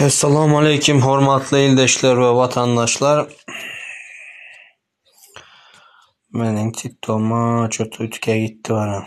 Assalamu aleykum hormatly ildeşler we watandaşlar. Meniň TikTok'uma çöp ütke gitdi bana.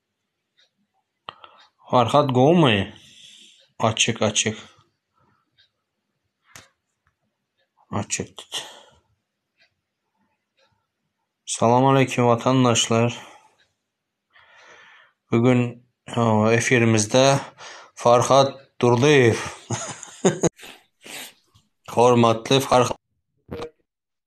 Farhat gowumy? Açyk açyk. Açyk tut. Salam aleyküm watandaşlar. Bu gün efirimizde Farhat Durdyýew. Hormatly Farhat.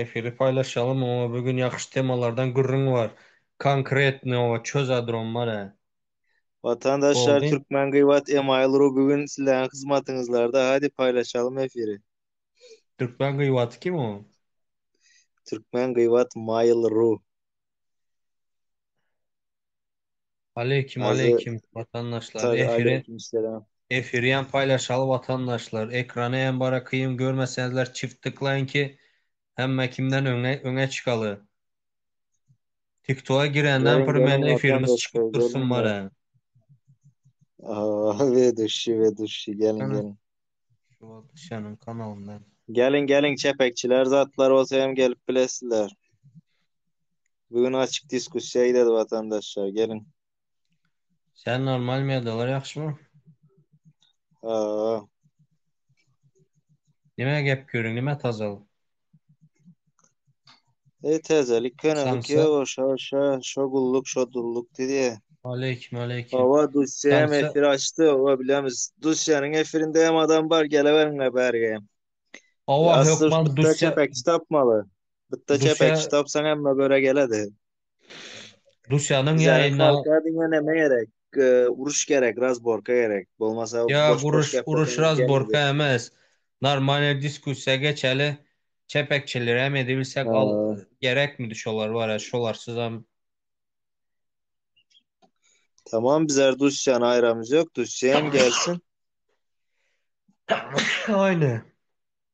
Efiri paýlaşalym oňa bu gün ýakşy temalardan gürrüň bar konkretny oba çözadrom bara. Watandaşlar Boldy. Türkmen gybat email ru bu gün sizleriň hyzmatyňyzlarda hadi paýlaşalym efiri. Türkmen gybaty kim o? Türkmen gybat mail ru. Aleýkim Azy aleýkim watandaşlar Taze efiri aleyküm selam. efirýam paýlaşaly watandaşlar ekrana hem bara kyn görmeseňizler çift tıklaýyň ki hemme kimden öňe öňe çykaly tiktoga girenden Geliň bir geliň meni efirimiz çykyp vatandaşlar dursun geliň ya. bara. Aa, Vedushi vedushi geliň Ana. geliň. Şu wagt Işanyň kanalynda. Geliň geliň çepekçiler zatlar bolsa hem gelip bilesizler. Bugün açyk diskussiýa gidedi watandaşlar geliň. Sen normal medalar ýagşymy? Haa. Nime gep gürüň nime tajal. Ey täzelik könelik Şansa- ýok şa şa şo gulluk şo dulluk diýýä. Aleýkim, aleýkim. Hawa Dusýa hem Şansa- efir açdy we bilemiz. Dusýanyň efirinde hem adam bar geleweriňler bärge hem. Hawa, Asly hökman bitde Dusýa- çepekçi tapmaly. Bitde Dusýa- çepekçi tapsaň hemme göre geledi. Russiýanyň ýaýyna diňe näme gerek? Uruş gerek, razborka gerek. Bolmasa boş uruş, uruş razborka emes. Normalny diskussiýa geçeli. Çepekçileri hem edibilsek al gerekmidi şolar bara şolarsyzam. Tamam biz Russiýany aýramyz ýok, Russiýa hem gelsin. Aýne.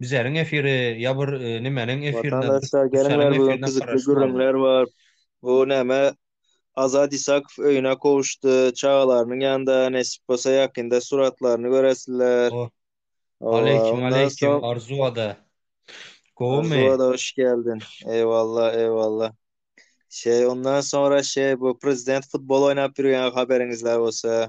Bizeriň efiri ýa bir nimeniň efirine Watandaşlar geliň ber bu gün gyzykly gürrüňler bar bu näme Azat Isakow öýüne gowuşdy çagalarynyň ýanynda nesip bolsa ýakynda suratlaryny göresiler Ow Aleýkim Aleýkim Arzu ada gowumy. Arzu ada hoş geldin eýwalla eýwalla şeý ondan soňra şeý bu prezident futbol oýnap ýürgen haberiňizler bolsa.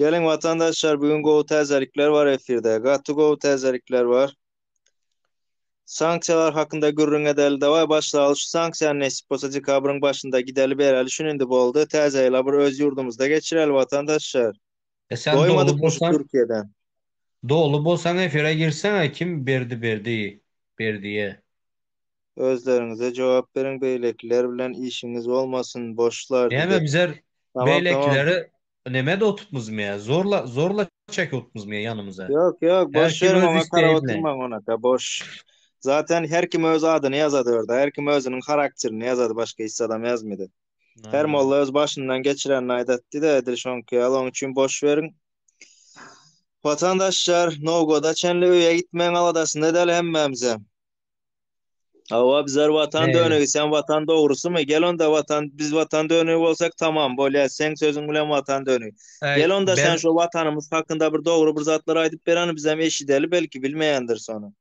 Geliň watandaşlar bugün gowy täzelikler bar efirde. Gaty gowy täzelikler bar. Sanksiýalar hakynda gürrüň edeli daway başlaly şu sanksiýany nesip bolsa dekabryň başynda gideli bereli şun indi boldy täze ýyla bir öz ýurdumyzda geçireli watandaşlar. E sen doly bolsaň Doly bolsaň efire girseňä kim berdi berdi berdiýe. özleriňize jogap beriň beýlekiler bilen işiňiz bolmasyn boşlar Näme diýdi. bizler Tamam tamam. beýlekileri neme edip otupmyzmy ýa zorla zorla çekip otupmyzmy ýa ýanymyza. Ýok ýok Her boş kim ýeriň öz oňa karap isleýi bilen. oturmaň onaka boş. Zaten her kim öz adyny ýazady orda her kim özüniň harakterini ýazady başga hiç zadam ýazmady. Her Aýýe. molla öz başyndan geçirenini aýdatdy da edil şoňky ýaly oň üçin boş beriň. Watandaşlar Nowgoda çenli öýe gitmegiň aladasynda däl hemmämizem. Hawa bizler watan dönegi sen watan dogrusymy? Gel onda watan biz watan dönegi bolsak tamam bolýar. Sen sözüň bilen watan dönegi. Gel onda sen şu watanymyz hakynda bir dogry bir zatlar aýdyp bereni bizem eşideli belki bilmeýändir sony.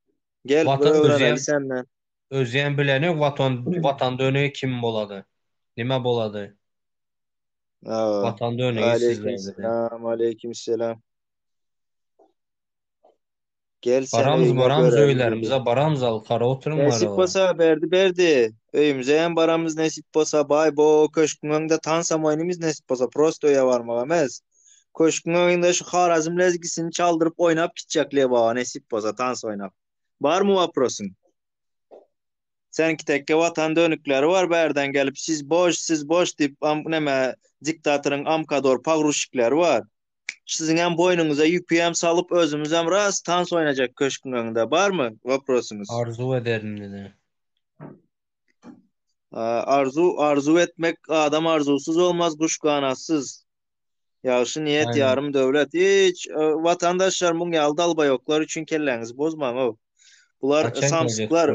Gel watan öwreneli senden. Özýän bileni watan watan dönegi kim bolady? Nime bolady? Watan dönegi sizler. Salam aleyküm selam. Gelsene Baramyz öýüňe baramyz göräýiň diýdi. öýlerimize baramyz al gara oturyň Nesip gara. bolsa Berdi Berdi öýümize hem baramyz nesip bolsa baý bo köşküň öňde tansam oýnymyz nesip bolsa prosto öýe barmak emes köşküň öňünde şu Harazm lezgisini çaldyryp oýnap gitjek Lebaba nesip bolsa tans oýnap barmy waprosyň Seniňki tekke watan dönükleri bar bärden gelip siz boş siz boş diýip am neme diktatoryň amkador pagruşikleri bar. Siziňem boýnuňyza ýükiäm salyp özümizem ras tans oýnajak köşküň öňünde barmy woprosyňyz? Arzuw ederin diňe. Arzuw arzuw etmek adam arzuwsyz bolmaz guş ganatsyz. Ýagşy niýet ýarym döwlet. Hiç watandaşlar muň ýaly dalbaýoklar üçin kelläňizi bozmaň-ow. Bular samsyklar.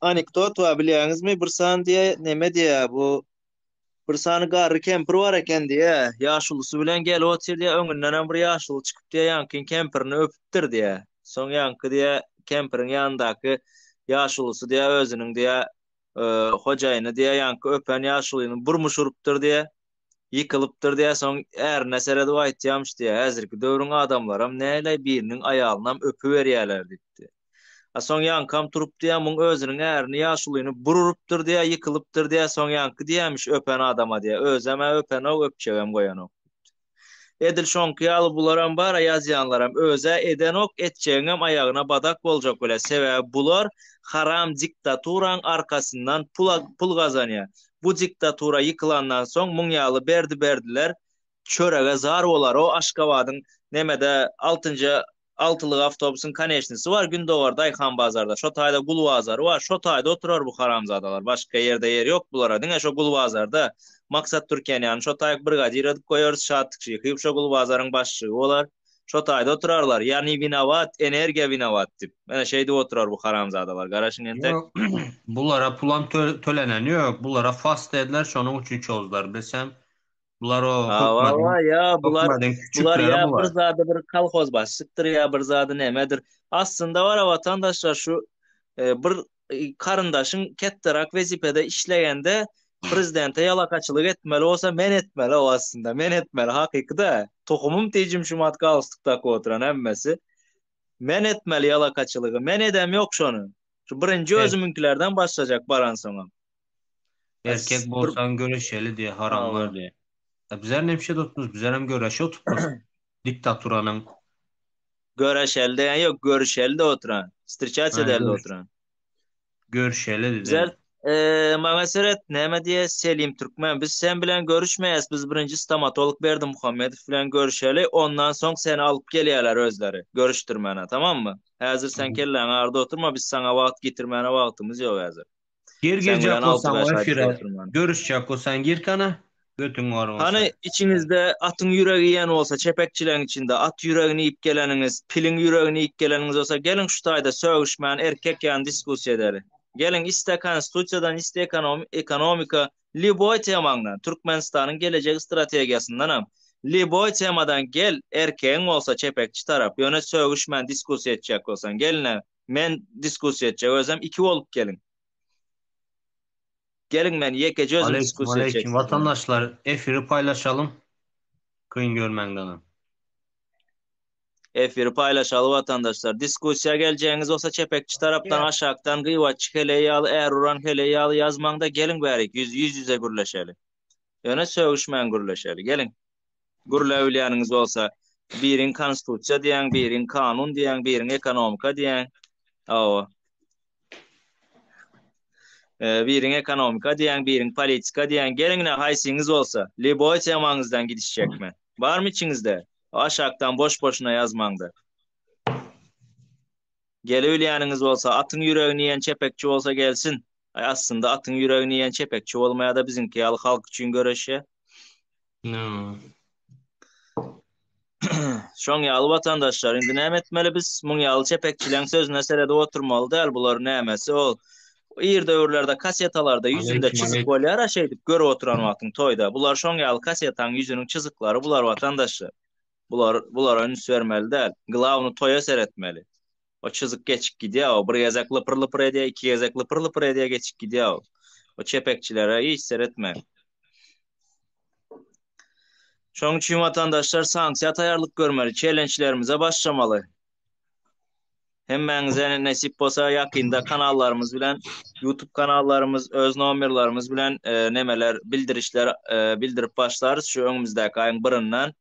Anekdot bar bilýäňizmi? Bir san diýä neme diýä bu Bir sany garry kempir bar eken diýýä. Ýaşulusy bilen gelip otyr diýýä. Öňündenem bir ýaşuly çykyp diýýä, ýaňkyň kempirini öpüpdir diýýä. Soň ýaňky diýýä, kempiriň ýanyndaky ýaşulusy diýýä, özüniň diýýä, hojaýyny diýýä, ýaňky öpen ýaşulyny burmuş urupdyr diýýä. Ýykylypdyr diýýä. Soň ärine seredip aýtýarmyş diýýä, Häzirki döwrüň adamlaram näleý biriniň aýalynam öpüberýärler diýipdir. A soň ýaňkam turup diýýär, muň özüniň ärini ýaşulyny bir urupdyr diýýär, ýykylypdyr diýýär, soň ýaňky diýýämiş, öpen adam-a diýýär, özem-ä öpen-ow, öpjegem goýanok. Edil şoňky ýaly bularam bar-a ýazýanlaram, öz-ä edenok, etjegiňem aýagyna badak boljak welä, sebäbi bular haram diktaturaň arkasyndan pul pul gazanýar. Bu diktatura ýykylandan soň muň ýaly berdi-berdiler çörege zar bolar-ow Aşgabadyň nemede altynja Altylyk awtobusyň koneçnisi bar gündogar daýhanbazarda şo taýda gul bazary bar şo taýda oturar bu haramzadalar başka ýerde ýeri ýok bulara diňe şo gul bazarda Maksat Türkiýanýany şo taýk brigadir edip goýarys Şatlyk Şyhyýew şo gul bazaryň başlygy bolar şo taýda oturarlar ýa ni winowat energiýa winowat dip menä şeýdip oturar bu haramzadalar garaşyň entek Ýok bulara pulam töleneni ýok bulara fast dediler şonuň üçin çozdylar biz hem Bular o Hawa-wa, ýa bular, bular ýa bir zady bir kolhozbaşçykdyr, ýa bir zady nämedir. Aslynda bar-a watandaşlar şu bir garyndaşyň ketderak wezipede işlegende prezidente ýalakaçylyk etmeli bolsa men etmeli-ow aslynda, men etmeli, hakyky-da. Tohumym tejim şumat galstuk dakyp oturan hemmesi. Men etmeli ýalakaçylygy, men edem ýok şony. Şu birinji özümiňkilerden başlajak baransoňam. Erkek bolsan göreşeli diye haram var diye. E bizler ne bir şey tutmuş, bizler hem göreşe oturtmuş diktaturanın. Göreşeli diyen yok, görüşeli de oturan. Stirçat edeli de oturan. Görüşeli dedi. Bizler e, mağa seret, neme diye Selim Türkmen, biz sen bilen görüşmeyiz, biz birinci stomatolog Berdi Muhammedov bilen görüşeli, ondan son seni alıp geliyorlar özleri, görüştürmene, tamam mı? Hazır sen kellen arda oturma, biz sana vaqt getirmene vaqtımız yok hazır. Gir girjek bolsaň o efire görüşjek bolsaň gir kana götüň bar bolsa. Hany içiňizde atyň ýüregi iýen bolsa çepekçileň içinde at ýüregini iýip geleniňiz piliň ýüregini iýip geleniňiz bolsa geliň şu taýda sögüşmän erkek ýaly diskusiýa edeli. Geliň iste konstitusiýadan iste ekonomika lýuboý temaňdan Türkmenistanyň gelejek strategiýasyndanam lýuboý temadan gel erkegiň bolsa çepekçi tarap ýöne sögüşmän diskusiýa etjek bolsaň gelin Men diskussiýa etjek özem iki bolup geliň. Geliň men ýekeje özüm Aleýkum diskussiýa etjek. aleýkum watandaşlar efiri paýlaşalyň. Kyn görmäňdana. Efiri paýlaşaly watandaşlar. Diskussiýa geljegiňiz bolsa çepekçi tarapdan aşakdan gyýbatçy heleý ýaly är uran heleý ýaly ýazmaňda geliň bärik ýüz ýüz ýüze gürleşeli. Ýöne sögüşmän gürleşeli. Geliň. gürläbilýäniňiz bolsa, biriň konstitusiýa diýýäň, biriň kanun diýýäň, biriň ekonomika diýýäň. Hawa. Biriň ekonomika diýýäň, biriň politika diýýäň. Geliň-le, haýsyňyz bolsa, lýuboý temaňyzdan gidişjek men. Barmy içiňizde? Aşakdan boş-boşuna ýazmaň-da. Gelibilýäniňiz bolsa, atyň ýüregini iýen çepekçi bolsa gelsin. Aý aslynda atyň ýüregini iýen çepekçi bolmaýada biziňki ýaly halk üçin göreşýä. No. Şoň ýaly watandaşlar indi näme etmeli biz muň ýaly çepekçileň sözüne seredip oturmaly däl bular nämesi ol ir döwürlerde kasetalarda ýüzünde çyzyk bolýara şeýdip görüp oturan wagtyň toýda bular şoň ýaly kasetaň ýüzüniň çyzyklary bular watandaşlar bular bulara üns bermeli däl glawny toýa seretmeli. O çyzyk geçip gidýär, o bir gezek lypyr-lypyr edýär, iki gezek lypyr-lypyr edýär, geçip gidýär. O çepekçilere hiç seretmäň. Şonuň üçin watandaşlar sanksiýa taýarlyk görmeli, çelençlerimize başlamaly. Hemmäňize nesip bolsa ýakynda kanallarymyz bilen YouTube kanallarymyz öz nomerlerimiz bilen e, nemeler bildirişler e, bildirip başlarys şu öňümizdäki aýyň birinden.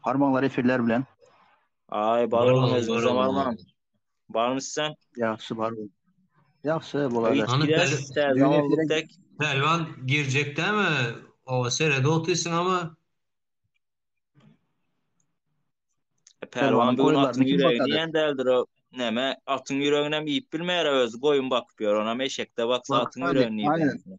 Harmanlar efirler bilen. Ay balgam özüňizem almaň. Barmy sen? Ýagşy bar. Ýagşy bolada. Pälwan girjek dämi? O serede otysyň ama. Pälwan bu atyň ýüregi diýen däldir o. Näme atyň ýüreginem iýip bilmeýär özi goýun bakyp ýör onam eşekde baksa atyň ýüregini iýer.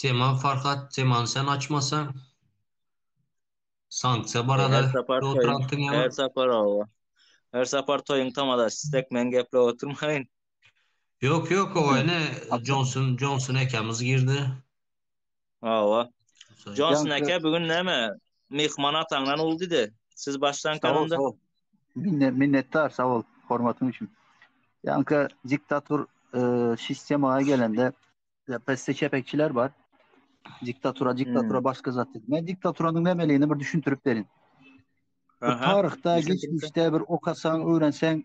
Tema Farhat Teman sen açmasa sanksiýa barada Her sapar toýun, oturansyň ýa her sapar owa. Her sapar toýun tamadaş, istek men geplep oturmaýyn. Ýok ýok owa ine Johnson Johnson ekemiz girdi. Hawa. Jonson aka bu gün näme? Myhman ataňdan uldydy. Siz başlanka onda. Sag ol. Minnet minnetdar sag ol hormatyň üçin. Ýanka diktator sistema gelende pesse çepekçiler bar. Diktatora diktatora hmm. başga zat diýip. Men diktatoranyň nämeligini bir düşündirip berin. Taryhda geçmişde bir okasaň, öwrenseň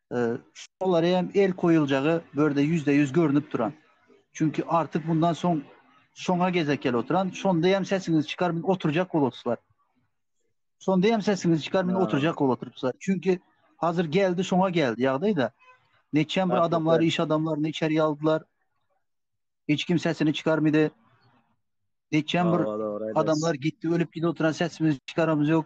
Şolara hem el koýuljagy bu ýerde ýüzde ýüz görnüp duran. Çünki artyk mundan soň şoňa gezek gel oturan. Şonda hem sesiňizi çykar men oturjak bolup oturslar. Şonda hem sesiňizi çykar men oturjak bolup oturslar. Çünki hazır geldi şoňa geldi ýagdaýda. Neçem bir adamlar, iş adamlaryny içeri aldylar. Hiç kim sesini çykarmydy. Neçem bir adamlar gitdi, ölüp gidip oturan sesimizi çykaramyz ýok.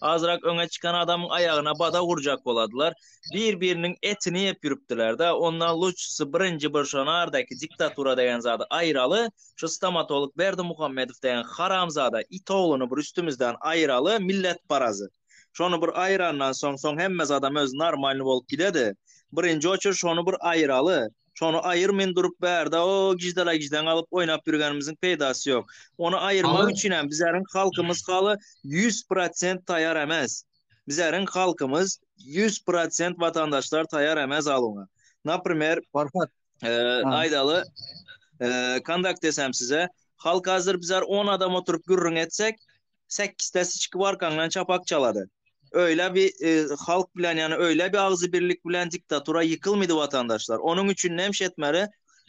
Azyrak öňe çykan adamyň aýagyna badag urjak boladylar. Bir-biriniň etini ýep ýürüpdiler-dä. Onda lujsy birinji bir şo nardaky diktatura degen zady aýyraly, şu stomatolog Berdimuhammedow degen haramzada it ogluny bir üstümizden aýyraly, millet parazy. Şony bir aýyrandan soň, soň hemme zadam özi normalny bolup gidedi. Birinji oçür şony bir aýyraly. Şony aýyrmyn durup bärde o gijdalaýgiždaň alyp oýnap ýürgenimiziň peýdasy ýok. Ony aýyrmak üçinem bizäriň halkymyz haly ýüz prosent taýar emes. Bizäriň halkymyz ýüz prosent watandaşlar taýar emes aluňa. Naprimer, Farhat, aýdaly, kondakt desem size, halk hazir bizär on adam oturyp gürrüň etsek, sekizde siçki barkaňdan çapak çalady. Öýle bi halk bilen ýane öýle bi agzy birlik bilen diktatura ýykylmydy watandaşlar. Onuň üçin nem şetmeli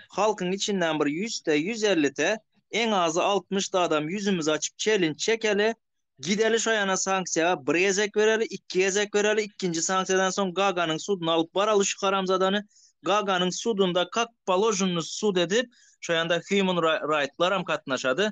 halkyň içinden bir ýüzte, ýüz ellite, eň azy altmyşta adam ýüzümizi açyp çelinç çekeli, gideli şo ýana sanksiýa bir gezek bereli, iki gezek bereli, ikinji sanksiýadan soň Gaganyň suduna alyp baraly şu haramzadany, Gaganyň sudunda kak položnny sud edip, şo ýanda human raýtlaram katnaşady,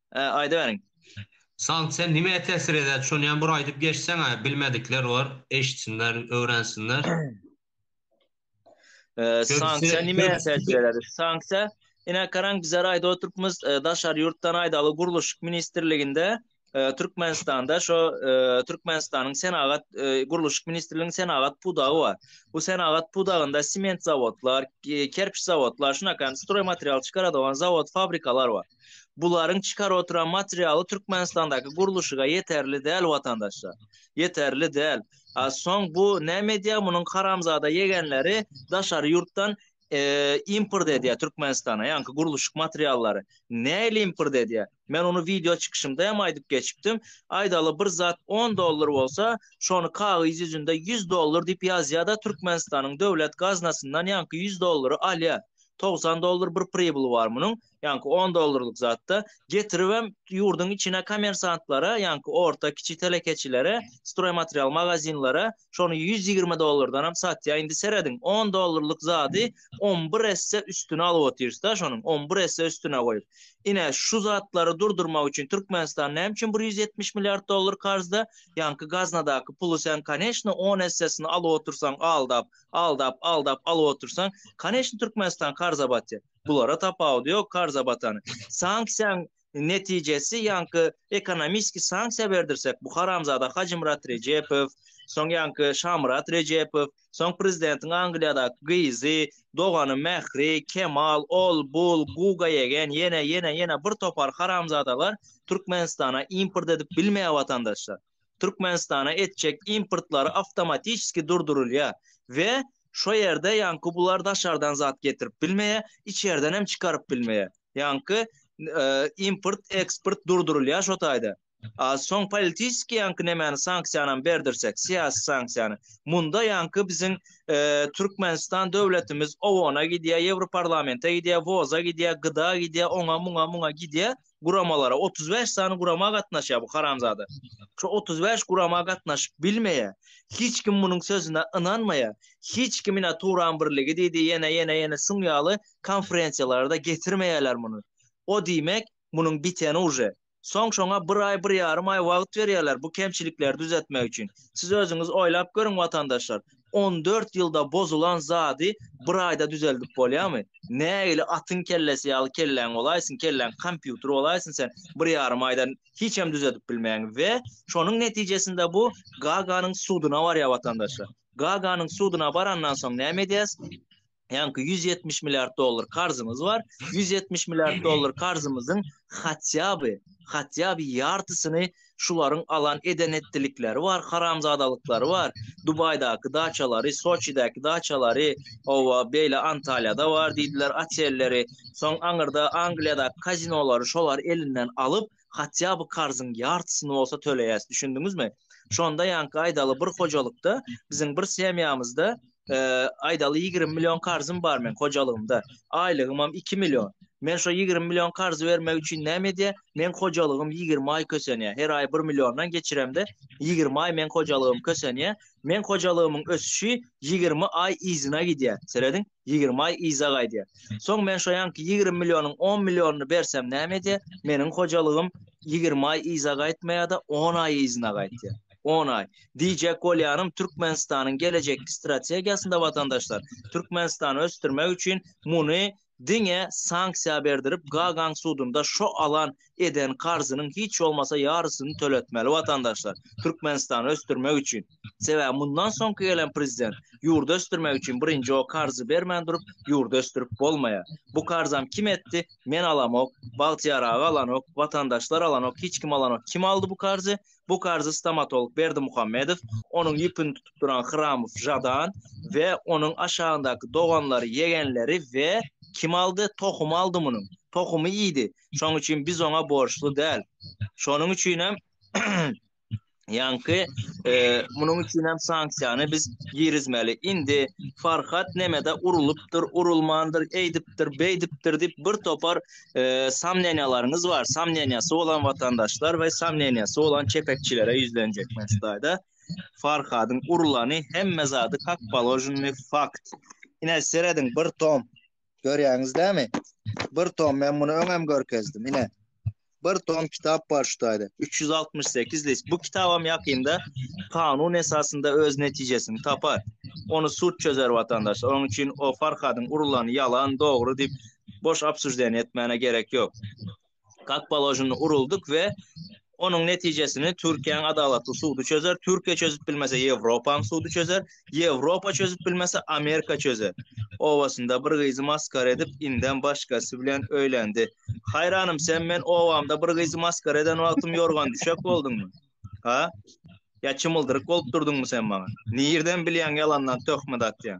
aýdyberiň. Salt sen nimä tesir eder şonyam bir aýdyp geçseňä bilmedikler bar eşitsinler öwrensinler. Sanksiýa nimäe täsir eder? Sanksiýa ine garaň bizler aýdyp oturypmyz daşary ýurtdan aýdaly gurluşyk ministrliginde Türkmenistanda şo Türkmenistanyň senagat gurluşyk ministrliginiň senagat pudagy bar. Bu senagat pudagynda sement zawodlar, kerpiç zawodlar şunakan stroý material çykaradogan zawod fabrikalar bar. Bularyň çykar oturan materialy Türkmenistandaky gurluşyga ýeterli däl watandaşlar. Ýeterli däl. A soň bu näme edýär munuň haramzada ýegenleri daşary ýurtdan import edýär Türkmenistana ýaňky gurluşyk materiallary. Nähili import edýär? Men ony wideo çykyşymda hem aýdyp geçipdim. Aýdaly bir zat on dollar bolsa şony kagyz ýüzünde ýüz dollar diýip ýazýar-da Türkmenistanyň döwlet gaznasyndan ýaňky ýüz dollary alýar. Togsan dollar bir pribly bar munuň. ýaňky on dollarlyk zatda getiribem ýurduň içine kommersantlara, ýaňky orta, kiçi telekeçilere, stroýmaterial magazinlere şony ýüz ýigrimi dollardanam satýar. Indi serediň, on dollarlyk zady on bir esse üstüne alyp otyrys-da şonuň, on bir esse üstüne goýup. Ine, şu zatlary durdurmak üçin Türkmenistan näme üçin bir ýüz ýetmiş milliard dollar karzda? Ýaňky gaznadaky puly sen, koneçny, on essesini alyp otyrsaň, aldap, aldap, aldap alyp otyrsaň, koneçny, Türkmenistan karza batýar. Bulara tapawudy ýok karza batan. Sanksiýaň netijesi ýaňky ekonomiski sanksiýa berdirsek bu haramzada Hajymyrat Rejepow, soň ýaňky Şamyrat Rejepow, soň prezidentiň Angliýadaky gyzy, dogany Mähri, Kemal, ol, bul, Guga ýegen, ýene, ýene, ýene bir topar haramzadalar Türkmenistana import edip bilmeýär watandaşlar. Türkmenistana etjek importlary awtomatiçeski durdurylýar we şo ýerde ýaňky bular daşardan zat getirip bilmeýär, içerden hem çykaryp bilmeýär. Ýaňky import, eksport durdurylýar şo taýda. A soň politiçeski ýaňky nemäni sanksiýanam berdirsek, syýasy sanksiýany. Munda ýaňky biziň Türkmenistan döwletimiz OON-a gidýär, Ýewroparlamente gidýär, WOZ-a gidýär, GDA-a gidýär, oňa, muňa, muňa gidýär. guramalara otuz bäş sany gurama gatnaşýar bu haramzada. Şu otuz bäş gurama gatnaşyp bilmeýär. Hiç kim munuň sözüne ynanmaýar. Hiç kim ina Turan birligi diýdi, ýene ýene ýene şuň ýaly konferensiýalarda getirmeýärler muny. O diýmek, munuň biteni uje. Soň şoňa bir aý, bir ýarym aý wagt berýärler bu kemçilikleri düzetmek üçin. Siz özüňiz oýlap görüň watandaşlar. on dört ýylda bozulan zady bir aýda düzeldip bolýamy? Nägili atyň kellesi ýaly kelläň bolaýsyn, kelläň kompýuter bolaýsyn sen bir ýarym aýda hiçem düzedip bilmäň we şonuň netijesinde bu Gaganyň suduna barýar watandaşlar. Gaganyň suduna barandan soň näme edýäs? Ýaňky 170 milliard dollar karzymyz bar. 170 milliard dollar karzymyzyň hatýaby, hatýaby ýartysyny şularyň alan eden etdilikleri bar, haramzadalyklary bar. Dubaýdaky daçalary, Soçidäki daçalary, owa, beýle Antalýada bar diýdiler otelleri. Soň aňyrda Angliýadaky kazinolary şolar elinden alyp, hatýa by karzyň ýartysyny bolsa töleýäs düşündiňizmi şonda ýaňky aýdaly bir hojalykda biziň bir semýamyzda aýdaly 20 million karzym bar men hojalygymda aýlygymam 2 million men şo 20 million karz bermek üçin näme edýä men hojalygym 20 aý kösenýä her aý 1 milliondan geçiremde 20 aý men hojalygym kösenýä men hojalygymyň ösüşi 20 aý yzyna gidýä serediň Ýigrimi aý yza gaýdýar. Soň men şo ýanky ýigrimi millionyň on millionyny bersem näme edýär? Meniň hojalygym ýigrimi aý yza gaýtmaýar-da, on aý yzyna gaýtýar. On aý. Diýjek bolýanym, Türkmenistanyň gelejekki strategiýasynda, watandaşlar, Türkmenistany ösdürmek üçin muny diňe sanksiýa berdirip, Gagaň sudunda şo alan eden karzynyň hiç bolmasa ýarysyny töletmeli watandaşlar Türkmenistany ösdürmek üçin. Sebäbi mundan soňky gelen prezident ýurdy ösdürmek üçin birinji o karzy bermän durup ýurdy ösdürip bolmaýar. Bu karzam kim etdi? Men alamok, Bagtyýar aga alanok, watandaşlar alanok, hiç kim alanok. Kim aldy bu karzy? Bu karzy stomatolog Berdimuhammedow, onuň ýüpini tutup duran Hramow Žadan we onuň aşagyndaky doganlary, ýegenleri we kim aldy? Tohumy aldy munuň. Tohumy iýdi. Şonuň üçin biz oňa borçly däl. Şonuň üçin hem ýaňky e, munuň üçin hem sanksiýany biz girizmeli. Indi Farhat nemede urulupdyr, urulmandyr, eýdipdir, beýdipdir diýip bir topar e, samneniýalaryňyz bar. Samneniýasy bolan watandaşlar we samneniýasy bolan çepekçilere ýüzlenjek men şudaýda. Farhadyň urulany hemme zady kak položenny fakt. Ine serediň bir tom Görýäňiz dämi? Bir tom men muny öňem görkezdim. Ine. Bir tom kitap bar şu taýda. 368 list. Bu kitabam ýakynda kanun esasynda öz netijesini tapar. Ony sud çözer watandaşlar. Onuň üçin o Farhadyň urulany ýalan, dogry diýip boş obsujdenýe etmäne gerek ýok. kak položeni uruldyk we onuň netijesini Türkiýäň adalatly sudy çözer, Türkiýe çözüp bilmese Ýewropanyň sudy çözer, Ýewropa çözüp bilmese Amerika çözer. Obasynda bir gyzy maskara edip indem başgasy bilen öýlendi. Haýranym sen men obamda bir gyzy maskara eden wagtym ýorgan düşek bolduňmy? Ha? Ýa çymyldyryk bolup durdyňmy sen maňa? Nirden bilýäň ýalandan töhmet atýan?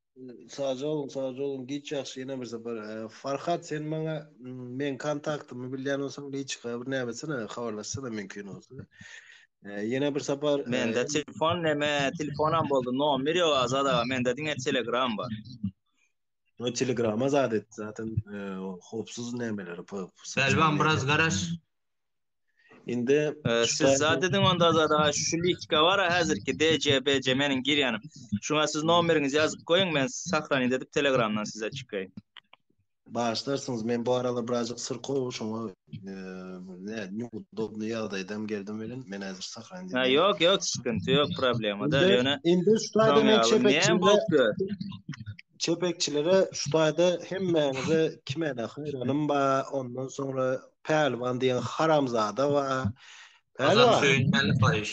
Sag ol, sag ol. Giç ýagşy ýene bir sapar. E, Farhat sen maňa mm, men kontaktymy bilýän bolsaň, liçka bir näme etsene, habarlaşsana mümkin bolsa. E, ýene bir sapar e, Mende telefon neme, telefonam boldy. Nomer ýok Azat aga. Mende diňe Telegram bar. o Telegrama zat et. Zaten e, o howpsuz nämeleri, p- p- Belbam biraz garaş. Indi siz zat ediň onda zada şu litka bar häzirki DJ BJ meniň girýanym. Şuňa siz nomeriňizi ýazyp goýuň men sahrany edip telegramdan size çykaýyn. Başlarsynız men bu arada birazcık syr kow şoňa e, ne neudobny ýagdaýdam geldim bilen men häzir sahrany edip. Ha ýok ýok sıkıntı ýok problema da ýöne. Indi şu taýda men çepe. Ne bolup Çepekçilere şu taýda hemmäňize kimede haýranym ba, ondan soňra Pälwan diýen haramzada ba. Pälwan. Söýünmäli paýyş.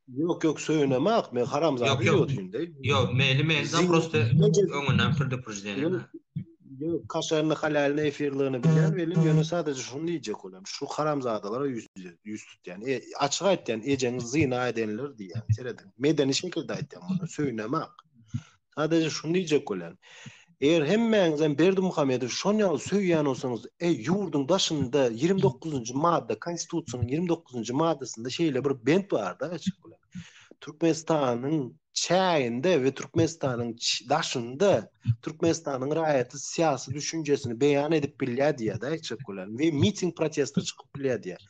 Ýok ýok söýünemak men haramzada ýodinde. Ýok meýli meýli prosta öňünden prduprždeniýa. Ýok kaşaryny halalny efirligini bilýän welin ýöne sadaja şuny diýjek bolan şu haramzadalara ýüz ýüz tutýan. E açyk aýtýan ejeňiz zyna edenler diýýän. Seredin. Medeni şekilde aýtýan muny söýünemak. Sadaje şuny diýjek bolýan. Eger hemmäňizem Berdimuhamedowy şon ýaly söýýän bolsaňyz, e ýurduň daşynda 29-njy madda konstitusiýanyň 29-njy maddasynda şeýle bir bent bar da açyk bolýan. Türkmenistanyň çäginde we Türkmenistanyň daşynda Türkmenistanyň raýaty syýasy düşünjesini beýan edip bilýär diýýär-de, aýtjak bolan we miting protesta çykyp bilýär diýýär.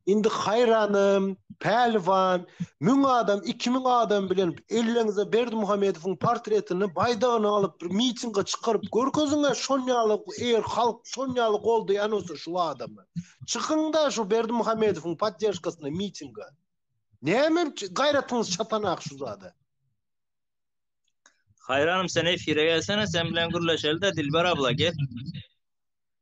Indi haýranym, Pälwan, müň adam, iki müň adam bilen elleňize Berdimuhamedowyň portretini, baýdagyny alyp bir mitinge çykaryp görkeziň-ä, şonýaly eger halk şonýaly goldaýan bolsa şu adamy. Çykyň-da şu Berdimuhamedowyň podderžkasyna mitinge. Näme gaýratyňyz çatanak şu zada? Haýranym sen efire gelsene, sen bilen gürleşeli-de Dilber abla gel.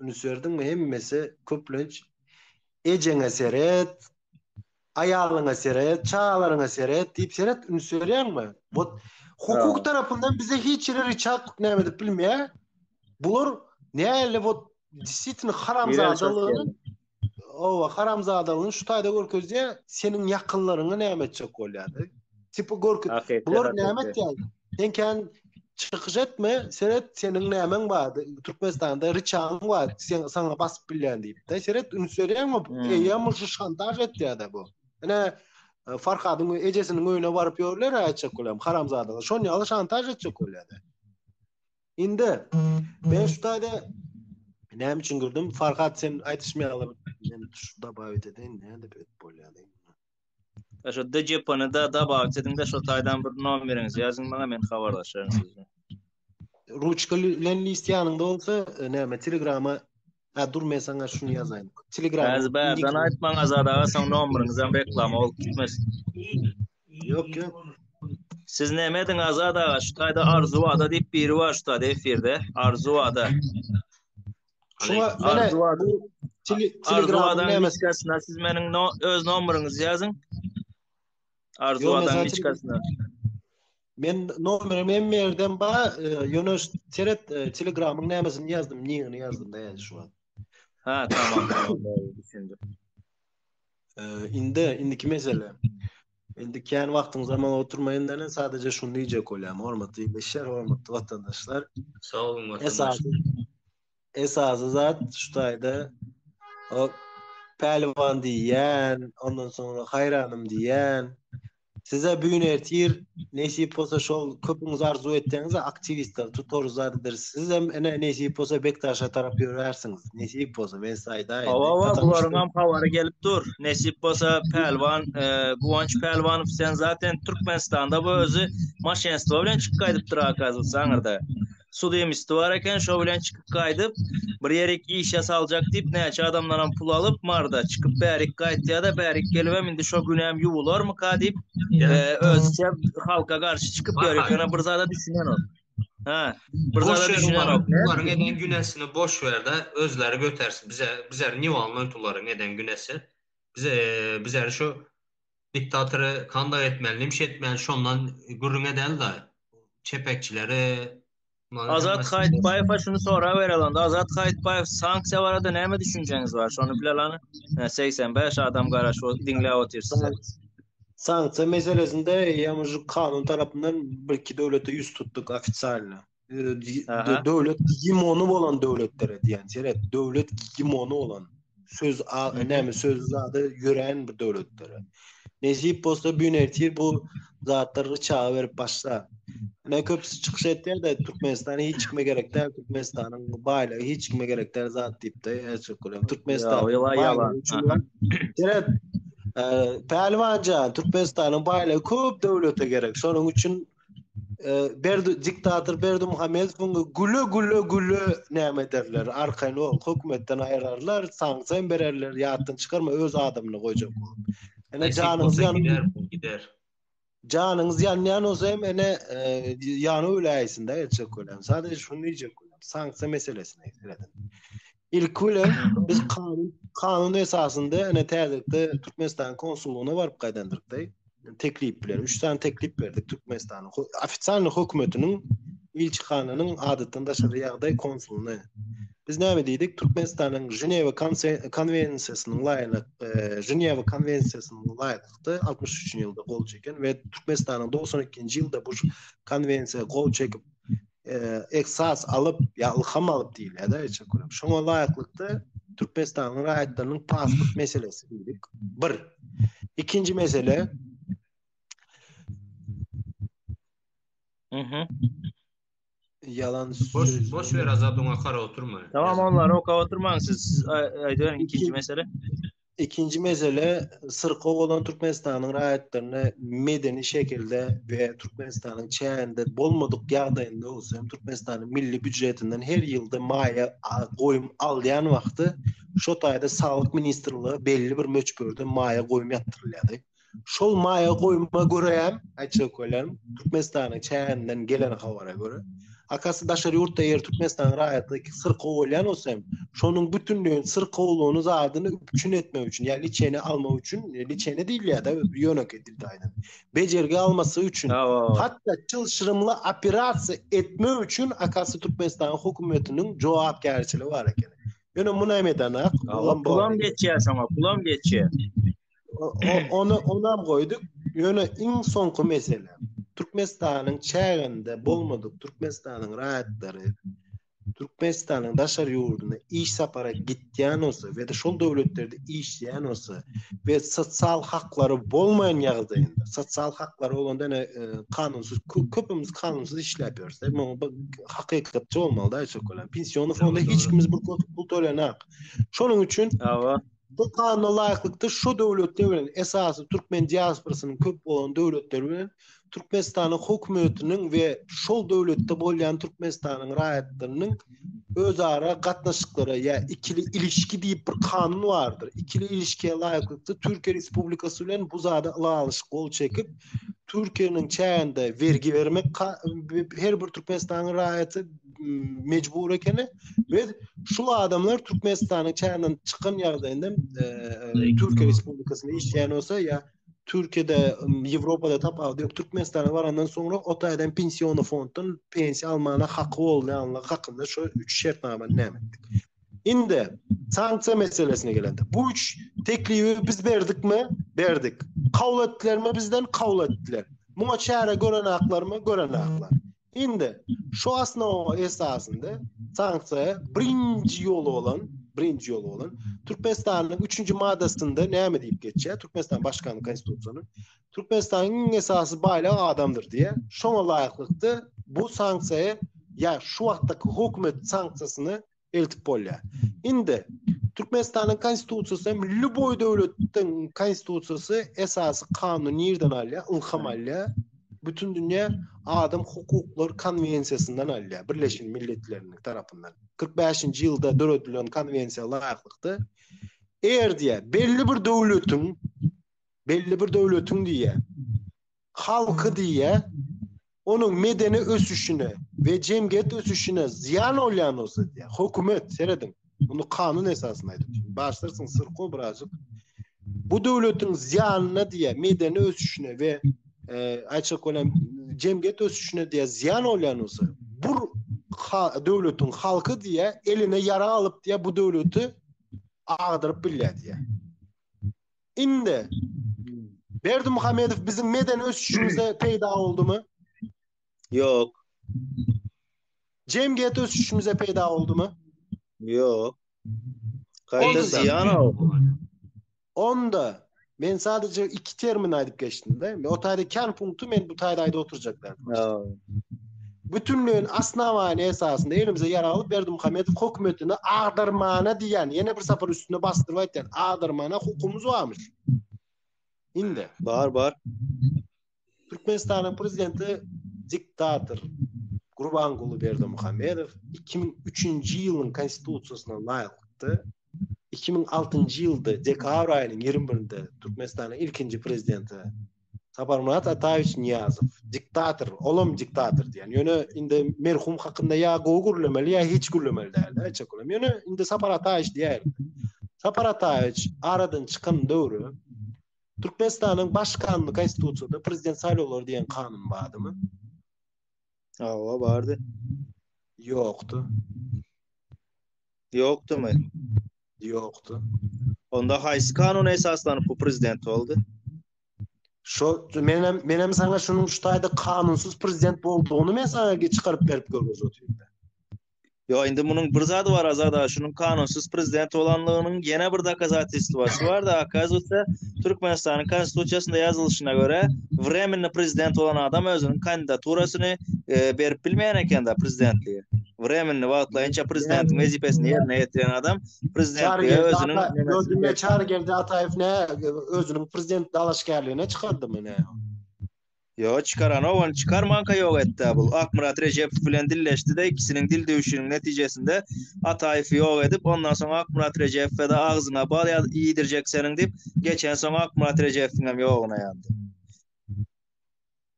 Ünüs berdiňmi hemmesi köplenç ejeňe seret, aýalyňa seret, çagalaryňa seret diýip seret ünüs berýäňmi? Bot hukuk tarapyndan bize hiç ýere riçartlyk näme edip bilmeýär. Bular näle bot disitin haramzadalygyny Owa, haramzadalygyny şu taýda görkezýär, seniň ýakynlaryňy näme etjek bolýardy? Tipi görküz. Bular näme etýär? Sen kän çykyş etme, seret seniň nämeň bar? Türkmenistanda riçaň bar, sen saňa basyp bilýän diýip. Da seret üns berýärmi? Hmm. Eýýäm şu şantaj etýär-de bu. Ene e, Farhadyň ejesiniň öýüne baryp ýörler aýtjak bolýar, haramzadalar. Şon ýaly şantaj etjek bolýar. Indi ben şu taýda näme üçin girdim? Farhat sen aýdyşmaýaňlar. Men şu dabawit edin, näde bet bolýardy. Şu DJP-ni da dabawit edin de şu taýdan bir nomeriňizi ýazyň maňa men habarlaşaryn sizden. Ruçka bilen list ýanyňda bolsa, e, näme Telegrama Ha dur men sana şunu yazayım. Telegram. Bazı bazıdan aytman azad ağa son nomeriniz reklama olup gitmez. Yok yok. Siz neme edin azad ağa şu tayda arzu ada deyip biri var şu tayda efirde arzu ada. Şuna arzu ada. Telegram nemesine siz menin no, öz nomerinizi yazın. Arzu adam hiç kasna. Men nomerim hem yerden ba, yöne seret telegramın nemesini yazdım, niyini yazdım da yani şu an. Ha tamam tamam doğru düşündüm. Indi indiki mesele. Indi kän wagtyň zaman oturmaýan däl, sadece şuny diýjek bolýan. Hormatly işler, hormatly watandaşlar. Sag boluň watandaşlar. esasy zat şu taýda o pälwan diýýän, ondan soňra haýranym diýýän. Size büýün ertir nesip bolsa şol köpüňiz arzuw etýäňiz aktiwistler tutarys adydyr. Siz hem ene nesip bolsa Bekdaşa tarap ýörärsiňiz. Nesip bolsa men size aýdaýyn. Hawa, hawa, bularyň hem habary gelip dur. Nesip bolsa pälwan, e, Guwanç pälwanow sen zaten Türkmenistanda bu özi maşenstwo bilen çykyp gaýdypdyr akazyl saňyrda. sud emisi bar eken şo bilen çykyp gaýdyp bir ýerik işe saljak diýip näçe adamdanam pul alyp marda çykyp bärik gaýtýada bärik gelibem indi şo günem ýuwularmyka diýip özüçe halka garşy çykyp ýör ekena bir zada düşünenok ha bir zada düşünenok bularyň eden günesini boş berde özleri götersin bize bize niwalnoýt bularyň eden günesi bize bize şo Diktatory kanda etmeli, nimşe etmeli şondan gürrüňe dälda. Çepekçileri Azat Haýytbaýewa şuny sorap bereli onda Azat Haýytbaýew sanksiýa barada näme düşünjeňiz bar şony bilelani ine segsen bäş adam garaşyp ot diňläp otyr sizi. Sanksiýa meselesinde ýa mužyk kanun tarapyndan birki döwlete ýüz tutdyk ofisialno. döwlet gimony bolan döwletler diýen seret döwlet gimony bolan söz näme söz zady ýören bir döwletler Nejip bolsa bu nertir bu zatlar çaga berip başla ne köpüsi çykyş etýär de Türkmenistan hiç kime gerek däl Türkmenistanyň baýlygy hiç kime gerek däl zat diýipdi Erçekgülem Türkmenistan Pälwanca Türkmenistanyň baýlygy köp döwlete gerek şonuň üçin Berdi diktator Berdi Muhammedowyň güle güle güle näme ederler? Arkaýyn ol hökümetden aýrarlar, sanksiýa bererler, ýatdan çykarma öz adamyny goýjak bolup. Ene janyňyz ýanyp gider. Janyňyz ýanýan bolsa hem ene ýanyp öläýsin-de etjek bolýan. Sadece şuny diýjek bolýan. Sanksiýa meselesine seredin. Ilki bilen biz kanun kanun esasynda ene täzelikde Türkmenistan konsullygyna baryp gaýdandyrykda teklip bilen üç sany teklip berdik Türkmenistanyň ofitsial hökümetiniň ilçihananyň adatdan daşary ýagdaý konsulyny. Biz näme diýdik? Türkmenistanyň Ženewa konwensiýasynyň laýyk, e, Ženewa konwensiýasynyň laýyklykda 63-nji ýylda gol çeken we Türkmenistanyň 92-nji ýylda bu konwensiýa gol çekip eksas alyp ya ylham alyp diýilýär da eçe köle. Şoňa laýyklykda Türkmenistanyň raýatlarynyň pasport meselesi diýdik. Bir. Ikinji mesele Mhm. Yalan boş boş ver azat oňa kara oturma. Tamam onlar oka oturmaň siz aýdyň ikinji mesele. Ikinji mesele syrkaw bolan Türkmenistanyň raýatlaryna medeni şekilde we Türkmenistanyň çäginde bolmadyk ýagdaýynda bolsa hem Türkmenistanyň milli býujetinden her ýylda maýa goýum alýan wagty şo taýda saglyk ministrlige belli bir möçberde maýa goýum ýatyrylýardy. Şol maýa goýuma görä, aýtjak welem, Türkmenistanyň çäginden gelen habara görä, akasy daşary ýurtda ýer Türkmenistanyň raýatlygy syrkaw bolýan bolsa hem, şonuň bütünleýin syrkawlygyny zadyny üpjün etmek üçin, ýa liçeni almak üçin, liçeni diýilýär-de, ýönekeý dilde aýdan. Bejergi almasy üçin, hatda çylşyrymly operasiýa etmek üçin akasy Türkmenistanyň hökümetiniň jogapkärçiligi bar ekeni. Ýöne muny hem edenok. Pulam geçýär şoňa, pulam geçýär. Onu onam goýduk. Ýöne iň soňky mesele. Türkmenistanyň çäginde bolmadyk Türkmenistanyň raýatlary Türkmenistanyň daşary ýurduna iş sapara gitýän bolsa we şol döwletlerde işleýän bolsa we sosial haklary bolmaýan ýagdaýynda, sosial haklary bolanda ýene e, kanunsyz köpümiz kanunsyz işläp ýörsek, muňa bir hakykatçy bolmaly-da, Pension fonda hiç kimiz bir pul tölenak. Şonuň üçin Bu Kanuna laýyklykda şu döwletler bilen, esasy türkmen diasporasynyň köp bolan döwletler bilen Türkmenistanyň hökümetiniň we şol döwletde bolýan Türkmenistanyň raýatlarynyň özara gatnaşyklary ýa ikili ilişki diýip bir kanun bardyr. Ikili ilişkiä laýyklykda Türkiýe Respublikasy bilen bu zada ylalaşyk gol çekip, Türkiýäniň çäginde bergi bermek her bir Türkmenistanyň raýaty mecbur ekeni. Biz şu adamlar Türkmenistanyň çäginden çykan ýagdaýynda e, e, Türkiýe Respublikasyna işleýän bolsa ýa Türkiýede, Ýewropada tapawut ýok. Türkmenistana barandan soňra o taýdan pensiony fonddan pensiýa almana haky bolýanlygy hakynda şu üç şertnamany näme etdik. Indi sanksiýa meselesine gelende, bu üç teklibi biz berdikmi? Berdik. Kabul etdilermi bizden? Kabul etdiler. Muňa çäre gören aklarmy? Gören aklar. Indi şu asnowa esasynda sanksiýa birinji ýol bolan, birinji ýol bolan Türkmenistanyň 3-nji maddasynda näme diýip geçýär? Türkmenistan başkanyň konstitusiýasynyň Türkmenistanyň iň esasy baýlygy adamdyr diýýär. Şoňa laýyklykda bu sanksiýa ýa şu wagtdaky hökümet sanksiýasyny eltip bolýar. Indi Türkmenistanyň konstitusiýasy hem lýuboý döwletiň konstitusiýasy esasy kanun nirden alýar? Ylham alýar. Bütün dünýä adam hukuklar konwensiýasyndan alýar, Birleşen Milletleriniň tarapyndan. 45-nji ýylda döredilen konwensiýa laýyklykda eger diýär, belli bir döwletiň belli bir döwletiň diýär, halky diýýä, onuň medeni ösüşine we jemgyýet ösüşine zyýan bolýan bolsa diýýä, hökümet, serediň, muny kanun esasynda aýdypdyr, başlarsyň syrko birazjyk, bu döwletiň zyýanyna diýýä, medeni ösüşine we e, aýtjak bolan jemgyýet ösüşine diýýä, zyýan bolýan bolsa, bu döwletiň halky diýýä, eline ýarag alyp diýýä, bu döwleti agdyryp bilýär diýýä. Indi Berdi Muhammedow biziň medeni ösüşimize peýda boldumy? Ýok. Jemgyýet ösüşimize peýda boldumy? Ýok. Gaýta zyýan Onda men sadece iki termin aýdyp geçdim-de. O taýda kän punkty men bu taýda aýdyp oturjaklar. bütinleýin osnowanie esasynda elimize ýarag alyp, Berdimuhamedow hökümetini agdarmana diýýän, ýene bir sapar üstüne basdyryp aýtýan, agdarmana hukumymyz barmyş. Indi. Bar, bar. Türkmenistanyň prezidenti diktator Gurbanguly Berdimuhamedow iki müň üçünji ýylyň Konstitusiýasyna laýyklykda iki müň altynjy ýylda dekabr aýynyň ýigrimi birinde Türkmenistanyň ilkinji prezidenti Saparmyrat Ataýewiç Niýazow, diktator, olam diktator diýen. Ýöne indi merhum hakynda ýa gowy gürlemeli, ýa hiç gürlemeli däl. Näçe köp. Ýöne indi Sapar Ataýewiç diýýär. Sapar Ataýewiç aradan çykan döwri Türkmenistanyň baş kanuny konstitusiýada prezident saýlawlary diýen kanun bardymy? Awa bardy. Ýokdy. Ýokdumy? Ýokdy. Onda haýsy kanuna esaslanyp bu prezident boldy? Şo men hem men hem saňa şunuň şu taýda kanunsyz prezident boldugyny men saňa çykaryp berip görkezip otyryn. Ýok, indi munuň bir zady bar Azat aga, şunuň kanunsyz prezident bolanlygynyň ýene bir dokazatilstwasy bar-da, akazywatsa, Türkmenistanyň Konstitusiýasynda ýazylyşyna görä, wremennyý prezident bolan adam özüniň kandidaturasyny berip bilmeýän eken-da prezidentlige. Wremennyý, wagtlaýynça prezidentiň wezipesini ýerine ýetiren adam prezidentlige özüniň nemes. Ýok, diňe Çarygeldi Ataýew nä özüniň prezident dalaşgärligine çykardymy nä? Ýok, çykaranok, ony çykarmanka ýok etdi-ä bul. Akmyrat Rejepow bilen dilleşdi-de, ikisiniň dil döwüşiniň netijesinde Ataýewi ýok edip, ondan soň Akmyrat Rejepowa-da agzyňa bal ýa-iýdirjek seniň diýip, geçen soň Akmyrat Rejepowyň hem ýoguna ýandy.